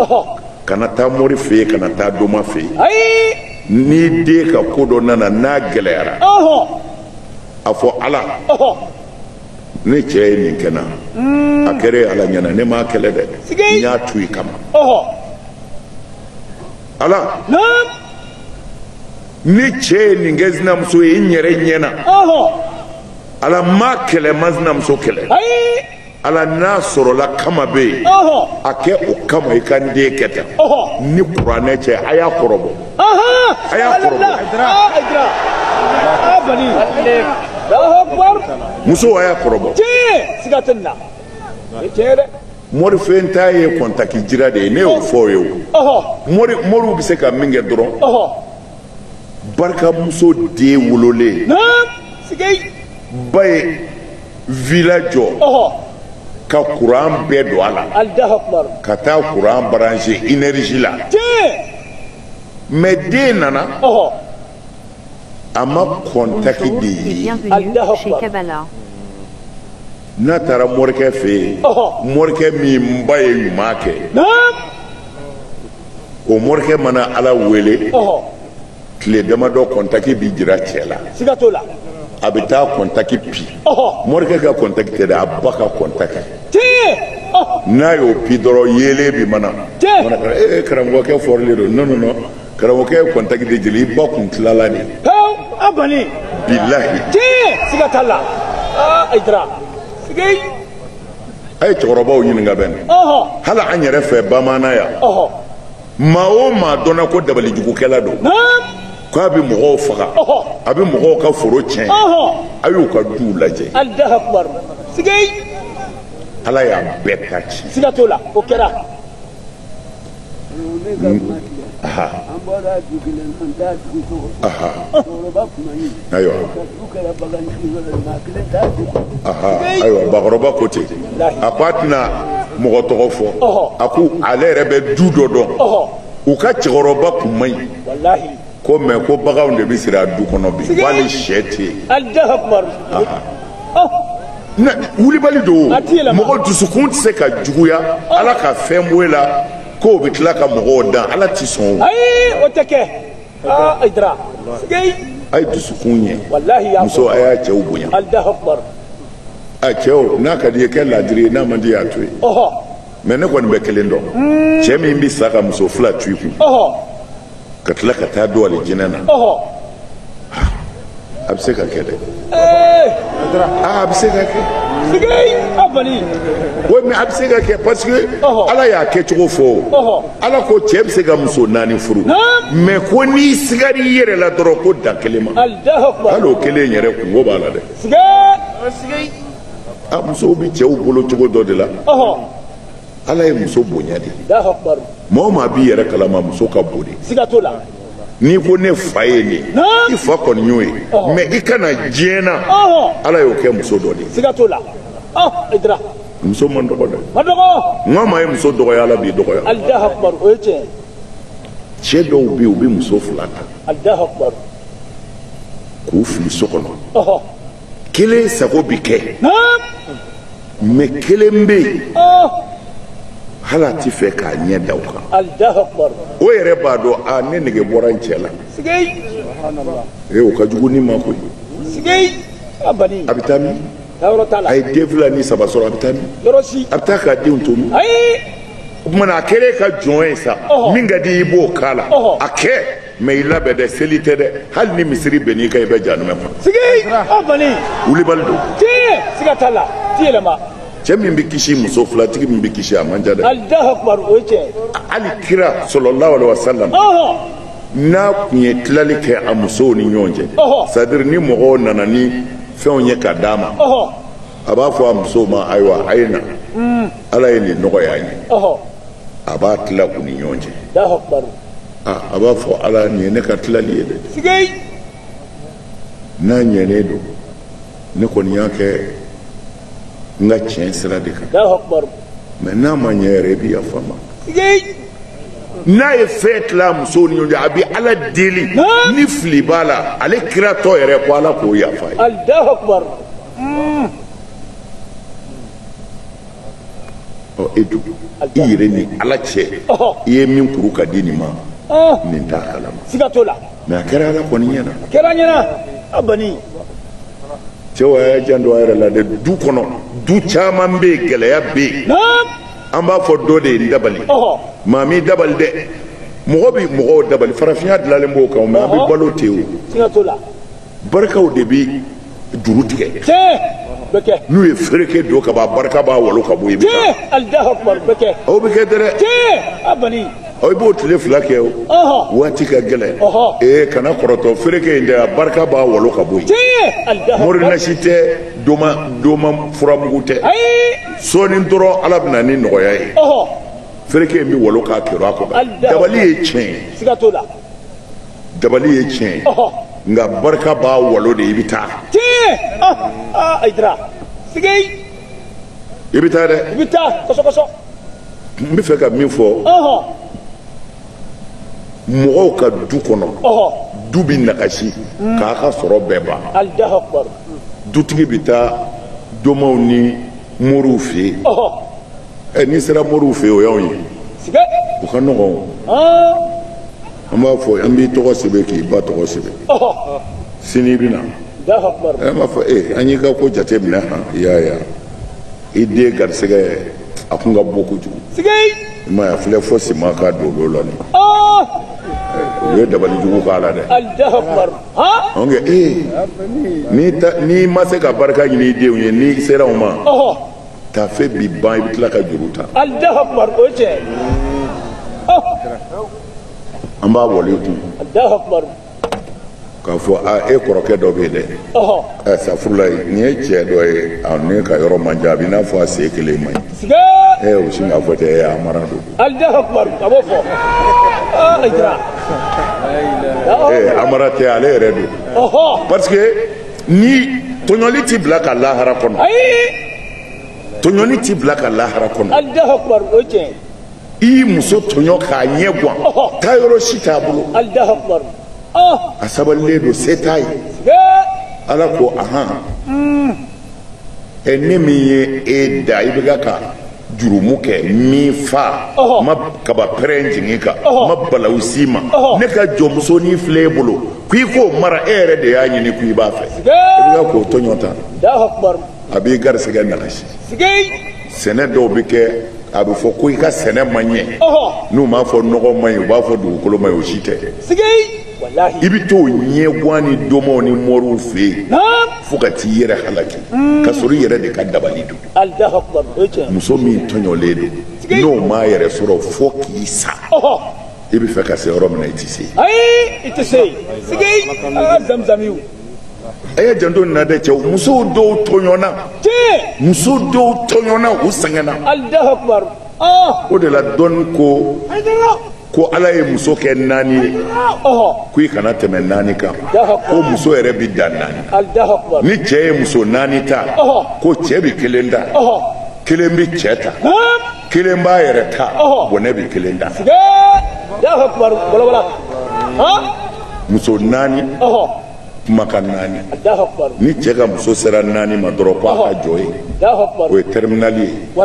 A: kana taa mori fɛ yen kana taa doma fɛ yen n'i den ka ko dɔ nana n'a gɛlɛyara a fɔ ala ne cɛ ye min kɛ n na hmm. a kɛra ala ɲɛna ne m'a kɛlɛ dɛ n y'a to i kama ala ne cɛ ye nin kɛ sinamuso ye n yɛrɛ ɲɛ na ala n m'a kɛlɛ n ma sinamuso kɛlɛ ala n'a sɔrɔla kama bɛ yen a kɛ o kama i ka n den kɛ tan ni kuranɛ cɛ a y'a kɔrɔbɔ a y'a kɔrɔbɔ muso a y'a kɔrɔbɔ mori fɛ taa ye kɔntaki jira de ye ne y'o fɔ ye o mori moriw bɛ se ka min kɛ dɔrɔn barikamuso den wololen ba ye vila jɔ ka kuran bɛɛ don a la ka taa kuran baranse inɛriji la mɛ den nana a ma kɔntaki de ye n'a taara morikɛ fɛ yen morikɛ min ba ye ɲuman kɛ o morikɛ mana ala wele tile damadɔ kɔntaki bɛ jira cɛ la a bɛ taa kɔntaki pi morikɛ ka kɔntaki tɛ dɛ a ba ka kɔntaki n'a y'o pi dɔrɔn yeelen bi mana ee karamɔgɔkɛ fɔrilen don non non non karamɔgɔkɛ ye kɔntaki de jeli i ba kun tilala de pewu a bani bilahi tiɲɛ siga t'a la aa Ayidara sigei a ye cɛkɔrɔbaw ɲininka bani hali an yɛrɛ fɛ bamaana yan maa o maa dɔnna ko dabalijugukɛla don ko a bɛ mɔgɔw faga a bɛ mɔgɔw ka foro tiɲɛ a y'u ka duw lajɛ ala y'a bɛɛ ka ci siga t'o la o kɛra Ayiwa kɔrɔba ko ten a ko a tɛna mɔgɔ tɔgɔ fɔ a ko ale yɛrɛ bɛ du dɔ dɔn u ka cɛkɔrɔba kun man ɲi ko mɛ ko baganw de bɛ siri a du kɔnɔ bi ko hali sɛ tɛ yen na wulibali don mɔgɔ dusukun tɛ se ka juguya ala ka fɛn bɔ e la k'o bɛ tila ka mɔgɔw dan ala tɛ sɔn o ayi o tɛ kɛ aa Ayidara a ye dusukun ɲɛ musow a y'a cɛw bonya a cɛw n'a ka di y'a kɛ laadiri ye n'a man di y'a to yen mɛ ne kɔni bɛ kelen dɔn cɛ min bɛ sa ka muso fila to i kun ka tila ka taa don alijinɛ na a bɛ se ka kɛ dɛ a bɛ se ka kɛ oui mais a bɛ se ka kɛ parce que ala y'a kɛcogo fɔ ala ko cɛ bɛ se ka muso naani furu mais ko n'i sigara i yɛrɛ la dɔrɔn ko dan kelen ma hali o kelen yɛrɛ kunko b'a la dɛ a musow bɛ cɛw bolo cogo dɔ de la ala ye muso bonya de maa o maa b'i yɛrɛ kalama muso ka bon de n'i ko ne fa ye nin i fa kɔni y'o ye mɛ i ka na diɲɛ na ala y'o kɛ muso dɔ de ye muso man dɔgɔ dɛ ni maa ye muso dɔgɔya ala b'i dɔgɔya cɛ dɔw bɛ yen u bɛ muso fila ta k'u fili so kɔnɔ kelen sago bi kɛ mɛ kelen bɛ yen hali a t'a fɛ k'a ɲɛ da o kan o yɛrɛ b'a dɔn a ne nege bɔra n cɛ la ee o ka jugu ni ma koyi a bɛ taa min a ye den fila ni saba sɔrɔ a bɛ taa min a bɛ taa k'a denw to min o kuma na a kɛlen ka jɔn ye sa min ka di i b'o k'a la a kɛ mɛ i labɛn dɛ seli tɛ dɛ hali ni misiri binn'i kan i bɛ jahanama kɔnɔ. sigi o kɔni. wulibali don. tiɲɛ siga t'a la ti yɛlɛma. cɛ min bɛ kisi muso filatigi min bɛ kisi a man ca dɛ. alahu akubar o ye tiɲɛ. hali kira salalahu alayhi wa salam. n'a tun ye tilali kɛ a musow ni ɲɔgɔn cɛ. c'est-à-dire ni mɔgɔw nana ni fɛnw ye ka d'a ma. a b'a fɔ a musow ma ayiwa a ye na ala ye nin nɔgɔya an ye ɔhɔ a b'a tila u ni ɲɔgɔn cɛ alahu akubaru Ah, a b'a fɔ ala nin ye ne ka tilali ye dɛ sigei n'a ɲɛnen don ne kɔni y'a kɛ n ka tiɲɛ sira de kan alahu akubaru mɛ n'a ma ɲɛ yɛrɛ i bɛ yafa n ma sigei n'a ye fɛn tila musow ni ɲɔgɔn cɛ a bɛ ala deli Naam. ni fili b'a la ale kiratɔ yɛrɛ ko ala k'o yafa ye alahu akubaru e dun i yɛrɛ ni ala cɛ i ye min kuru ka di nin ma nin t'a kalama siga t'o la mɛ a kɛra ala kɔni ɲɛ na a kɛra ɲɛ na a bani cɛw a y'a janto a yɛrɛ la dɛ du kɔnɔ du caman bɛ yen gɛlɛya bɛ yen an b'a fɔ dɔ de ye n dabali maa m'i dabali dɛ mɔgɔ bɛ mɔgɔw dabali farafinya dilanlen b'o kan mɛ an bɛ balo ten o barikaw de bɛ juru tigɛ n'u ye fereke don ka ban barika b'a walo ka bɔ i bɛ taa aw bɛ kɛ dɛ aw b'o tile fila kɛ o waati ka gɛlɛn ee kana kɔrɔtɔ fereke in dɛ a barika b'a walo ka bɔ yen mori nasi tɛ doma doma furamugu tɛ sɔɔni dɔrɔn ala bɛ na ni nɔgɔya ye fereke in bɛ walo k'a kɛrun a kɔnɔ dabali ye tiɲɛ ye dabali ye tiɲɛ ye nka barika b'a walo de i bɛ taa tiɲɛ ayi dira sige i bɛ taa dɛ i bɛ taa kɔsɔkɔsɔ n bɛ fɛ ka min fɔ mɔgɔw ka du kɔnɔ du bɛ nagasi mm. k'a ka sɔrɔ bɛɛ ban dutigi bɛ taa domaw ni moriw fɛ yen ɛ n'i sera moriw fɛ yen o y'anw ye o ka nɔgɔn an b'a fɔ an b'i tɔgɔ sɛbɛn k'i ba tɔgɔ sɛbɛn sini i bɛ na an b'a fɔ ee an y'i ka ko jate minɛ han i y'a ye i den garisɛgɛ a kun ka bon kojugu i m'a ye a filɛ fo siman ka don olu la nin u ye dabali jugu k'a la dɛ an kɛ ee n'i ma se ka barika ɲini i denw ye n'i sera u ma tafe bi ban i bɛ tila ka juru ta alahu akubar o ye tiɲɛ ye an b'a wale kun alahu akubar k'a fɔ a e kɔrɔkɛ dɔ bɛ yen dɛ ɔhɔ ɛ safurula nin ye cɛ dɔ ye a ne ka yɔrɔ man jan a b'i n'a fɔ a sen kelen man ɲi sige ɛ o sin k'a fɔ tɛ ɛ a mara don alahu akubar a b'o fɔ aa a jira ɛ a mara tɛ ale yɛrɛ don ɔhɔ parce que ni tɔɲɔli t'i bila ka lahara kɔnɔ tɔɲɔli t'i bila ka lahara kɔnɔ i ye muso tɔɲɔ k'a ɲɛguwan taayɔrɔ si t'a bolo a sabalilen don se t'a ye ala ko ahan ɛ ne min ye e da i bɛ ka ka jurumu kɛ min fa ma kaba pɛrɛn jigin i kan ma balawu s'i ma ne ka jɔnmuso nin filɛ e bolo ko i k'o mara e yɛrɛ de y'a ɲini ko i b'a fɛ i bɛ k'o tɔɲɔ ta a b'i garisɛgɛ nagasi sɛnɛ dɔw bɛ kɛ a bɛ fɔ ko i ka sɛnɛ ma ɲɛ n'u m'a fɔ nɔgɔ man ɲi u b'a fɔ dugukolo man ɲi o si tɛ i bɛ t'o ɲɛguwan ni domaw ni mɔriw fɛ yen fo ka t'i yɛrɛ halaki ka sɔrɔ i yɛrɛ de ka dabali don muso min tɔɲɔlen don n'o m'a yɛrɛ sɔrɔ fo k'i sa i b'a fɛ ka se yɔrɔ min na i tɛ se yen. ayi i tɛ se yen sigi an ka zamzamiw. a y'a janto nin na dɛ cɛw musow dɔw tɔɲɔna. tiɲɛ. muso dɔw tɔɲɔna u sɛgɛnna. alahu akubaru. o de la dɔɔni ko. ko ala ye muso kɛ naani ye ko i kana tɛmɛ naani kan ko muso yɛrɛ bi dan naani ni cɛ ye muso naani ta ko cɛ bi kelen ta kelen bi cɛ ta kelen b'a yɛrɛ ta bɔnɛ bi kelen ta muso naani kumakan naani ni cɛ ka muso sera naani ma dɔrɔn ko a ka jɔ yen o ye tɛriminali ye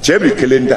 A: cɛ bi kelen ta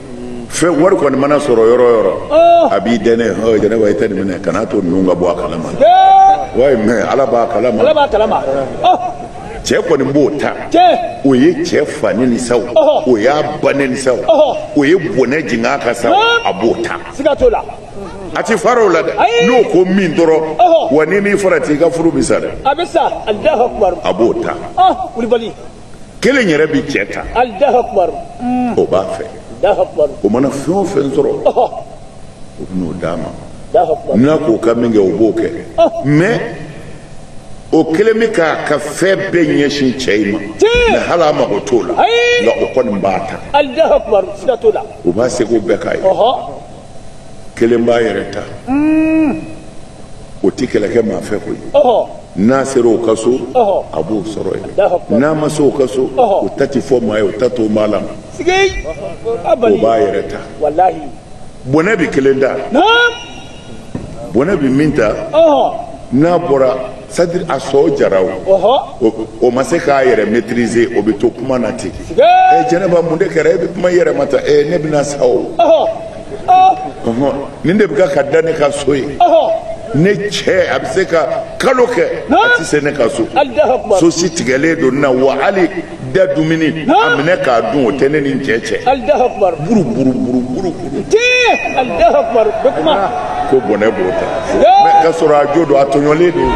A: fɛn wari kɔni mana sɔrɔ yɔrɔ o yɔrɔ oh. a b'i dɛnɛ ɔ jɛnɛba i tɛ nin minɛ kana to ninnu ka bɔ a kalama wayi mɛ ala b'a kalama ala b'a kalama oh. cɛ kɔni b'o ta o ye cɛ fani ni saw oh. o y'a banɛ ni saw o ye bɔnɛ jigin a ka saw a b'o ta siga t'o la a ti fara o la dɛ n'o ko min dɔrɔn wa n'i m'i farati i ka furu bi sa dɛ a bɛ sa a b'o ta kulubali kelen yɛrɛ bɛ cɛ ta o b'a fɛ o mana fɛn o fɛn sɔrɔ o bɛ n'o d'a ma n'a k'o ka min kɛ o b'o kɛ mɛ o kelen bɛ k'a ka fɛn bɛɛ ɲɛsin cɛ in ma mɛ hali a mago t'o la nka o kɔni b'a ta o b'a seko bɛɛ k'a ye kelen b'a yɛrɛ ta o tɛ kɛlɛ kɛ maa fɛ koyi n'a sera o ka so a b'o sɔrɔ yen n'a ma se o ka so o ta tɛ fɔ maa ye o da tɛ maa la o b'a yɛrɛ ta bɔnɛ bɛ kelen ta bɔnɛ bɛ min ta n'a bɔra sadiri a sɔn jara o o ma se k'a yɛrɛ maîtriser o bɛ to kuma na ten ɛ jɛnɛba mun de kɛra e bɛ kuma i yɛrɛ ma tan ɛ ne bɛna sa o nin de bɛ ka ka da ne ka so ye ne cɛ a bɛ se ka kalo kɛ a tɛ se ne ka so so si tigɛlen don n na wa hali da dumuni a minɛ k'a dun o tɛ ne ni n cɛ cɛ buru buru buru buru buru ko bɔnɛ b'o ta mɛ ka sɔrɔ a jo don a tɔɲɔlen don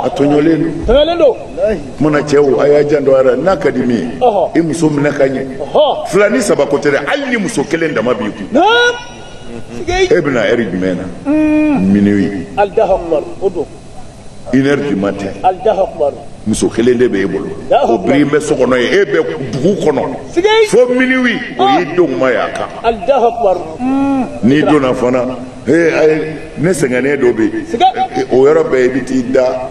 A: a tɔɲɔlen don mana cɛw a y'a janto a ra n'a ka di min ye i muso minɛ ka ɲɛ fila ni saba ko tɛ dɛ hali ni muso kelen dama b'i kun e bɛna ɛri jumɛn na minuit une heure du matin muso kelen de b'e bolo o biri bɛ so kɔnɔ yen e bɛ dugu kɔnɔ fo minuit o y'i denw ma y'a kan n'i donna fana ne sɛgɛnnen don bi o yɔrɔ bɛɛ i bɛ t'i da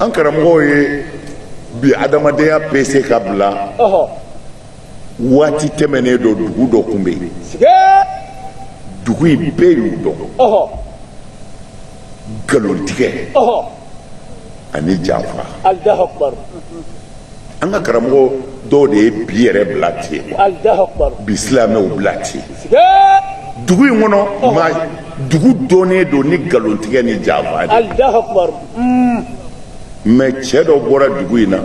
A: an karamɔgɔw ye bi adamadenya pese ka bila waati tɛmɛnen dɔ dugu dɔ tun bɛ yen dugu in bɛɛ y'u dɔn nkalontigɛ ani janfa an ka karamɔgɔ dɔw de ye bi yɛrɛ bila ten ka bi silamɛw bila ten dugu in kɔnɔ ma dugu dɔnnen don ni nkalontigɛ ni janfa de mais cɛ dɔ bɔra dugu in na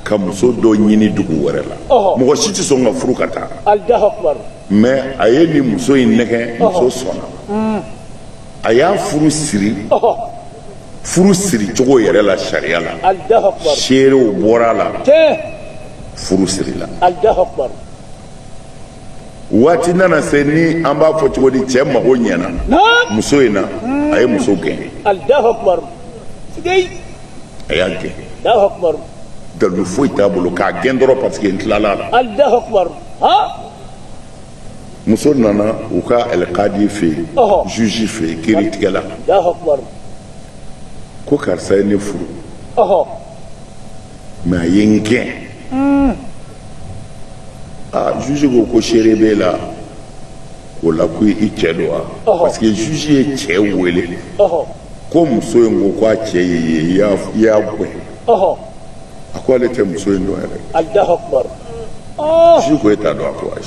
A: ka muso dɔ ɲini dugu wɛrɛ la mɔgɔ si tɛ sɔn ka furu ka taa mais a ye nin muso in nɛgɛn muso sɔnna a y'a furu siri furu siri cogo yɛrɛ la sariya la seerew bɔra a la furu sirila waati nana se ni an b'a fɔ cogo di cɛ mago ɲɛna muso in na a ye muso gɛn a y'a gɛn dalu foyi t'a bolo k'a gɛn dɔrɔn parce que n tilala a la muso nana u ka alikadi fɛ yen juge fɛ yen kiritigɛla ko karisa ye ne furu mais a ye n gɛn hmm. aa juge ko ko seere b'e la o la ko i cɛ don wa parce que juge ye cɛ wele ko muso in ko ko a cɛ ye e ye i y'a gɛn ɔhɔ a ko ale tɛ muso in dɔn yɛrɛ alahu akubar ɔɔ juge ko e t'a dɔn a ko ayi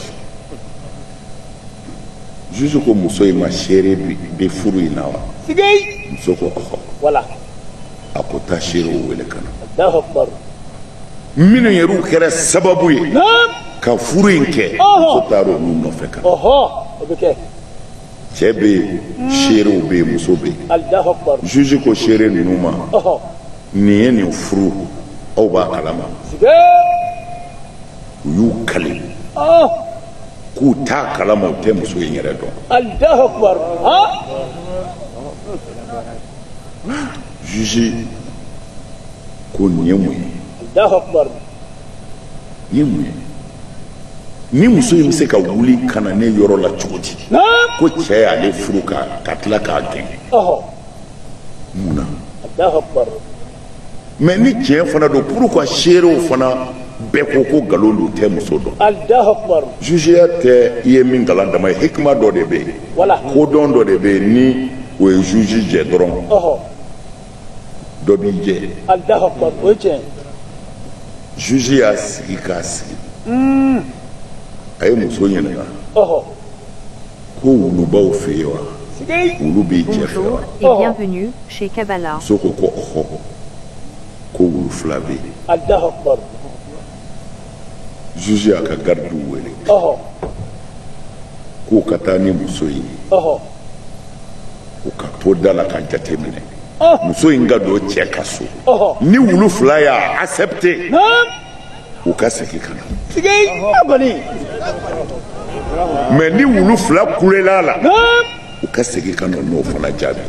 A: juge ko muso in ma seere bɛ furu in na wa sigei muso ko ɔhɔ voilà a ko taa seerew wele ka na alahu akubar minnu yɛrɛ u kɛra sababu ye naam ka furu in kɛ Ɔhɔ. muso taara olu nɔfɛ ka na ɔhɔ o bɛ kɛ cɛ bɛ yen seerew bɛ yen muso bɛ yen juge ko seere ninnu ma nin ye nin furu aw b'a kalama u y'u kali k'u t'a kalama u tɛ muso in yɛrɛ dɔn juge ko nin ye mun ye nin ye mun ye nin muso in bɛ se ka wuli ka na ne yɔrɔ la cogo di ko cɛ y'ale furu ka ka tila k'a gɛn mun na mɛ ni tiɲɛ fana don pourquoi seerew fana bɛɛ ko ko nkalon don u tɛ muso dɔn jugeya tɛ i ye min kalan dama ye hikima dɔ de bɛ yen kodɔn dɔ de bɛ yen ni o ye juge jɛ dɔrɔn dɔ b'i jɛ alahu akubar o ye tiɲɛ ye juge y'a sigi k'a sigi a ye muso ɲininka ɔhɔ ko wulu b'aw fɛ yen wa est-ce que wulu b'i cɛ fɛ wa muso ko ko ɔhɔ ko wulu fila bɛ yen alahu akubar juge y'a ka gardiw wele k'u ka taa ni muso in ye u ka to da la ka jate minɛ muso in ka don cɛ ka so ni wulu fila y'a accepte u ka segin ka na mɛ ni wulu fila kulela a la u ka segin ka na n'o fana jaabi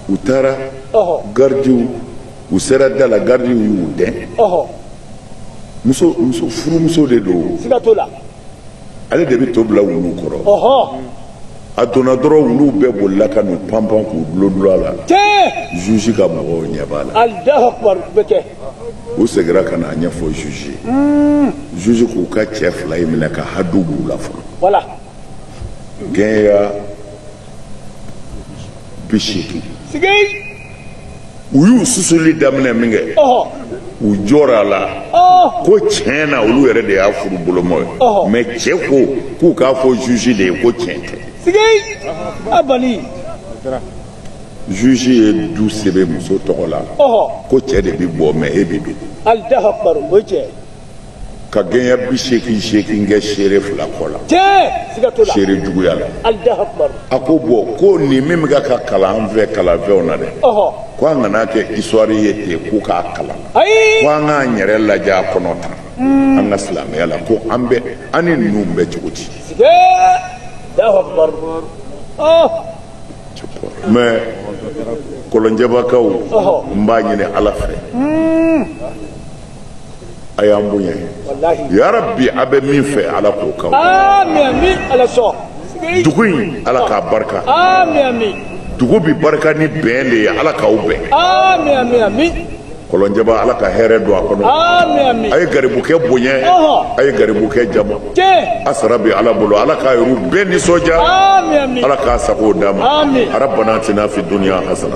A: u taara garidiw u sera da la garidiw y'u dɛn muso muso furumuso de don ale de bɛ to bila wulu kɔrɔ a donna dɔrɔn wuluw bɛɛ bolila ka n'u panpan k'u dulondulon a la zuzi ka mɔgɔw ɲɛ b'a la u segira ka n'a ɲɛfɔ zuzi ye zuzi k'u ka cɛ fila in minɛ ka hadu b'u la fɔlɔ gɛɲɛ bi seegin u y'u susuli daminɛ minkɛ u jɔra a la ko tiɲɛ na olu yɛrɛ de y'a furu bolomɔ ye mɛ cɛ ko k'u k'a fɔ juge de ye ko tiɲɛ tɛ juge ye du sɛbɛn muso tɔgɔ la ko cɛ de bi bɔ mɛ e bi don ka gɛɲɛ bi seegin seegin kɛ seere fila kɔ la seere juguya la a ko bɔn ko nin min bɛ ka kalan an fɛ kalanfɛnw na dɛ ko an kan'a kɛ histoire ye ten ko k'a kalan ko an k'an yɛrɛ lajɛ a kɔnɔ ta hmm. an ka silamɛya la ko an bɛ an ni ninnu bɛ cogo di mais Kɔlɔnjɛbakaw n b'a ɲini ala fɛ hmm. a y'an bonya yarabi a bɛ min fɛ ala k'o kɛ dugu in ala k'a barika dugu bi barika ni bɛn de ye ala k'aw bɛn kɔlɔnjɛba ala ka hɛrɛ don a kɔnɔ a ye garibukɛ bonya a ye garibukɛ jama a sara bɛ ala bolo ala k'a yɛrɛ bɛɛ nisɔndiya ala k'a sago d'a ma rabana atina fi dunya hasana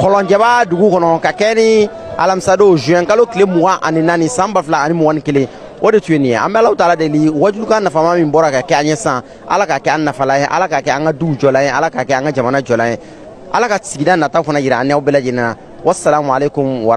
A: kɔlɔnjaba dugu kɔnɔ ka kɛ ni alamisadon juin kalo tile mugan ani naani san ba fila ani mugan ni kelen o de tun ye nin ye an bɛ alahu taala deli wajulukan nafama min bɔra ka kɛ an ye sa ala k'a kɛ an nafalan ye ala k'a kɛ an ka dugu jɔlan ye ala k'a kɛ an ka jamana jɔlan ye ala ka sigida nata fana jira an n'aw bɛɛ lajɛlen na wasalamu aleykum wa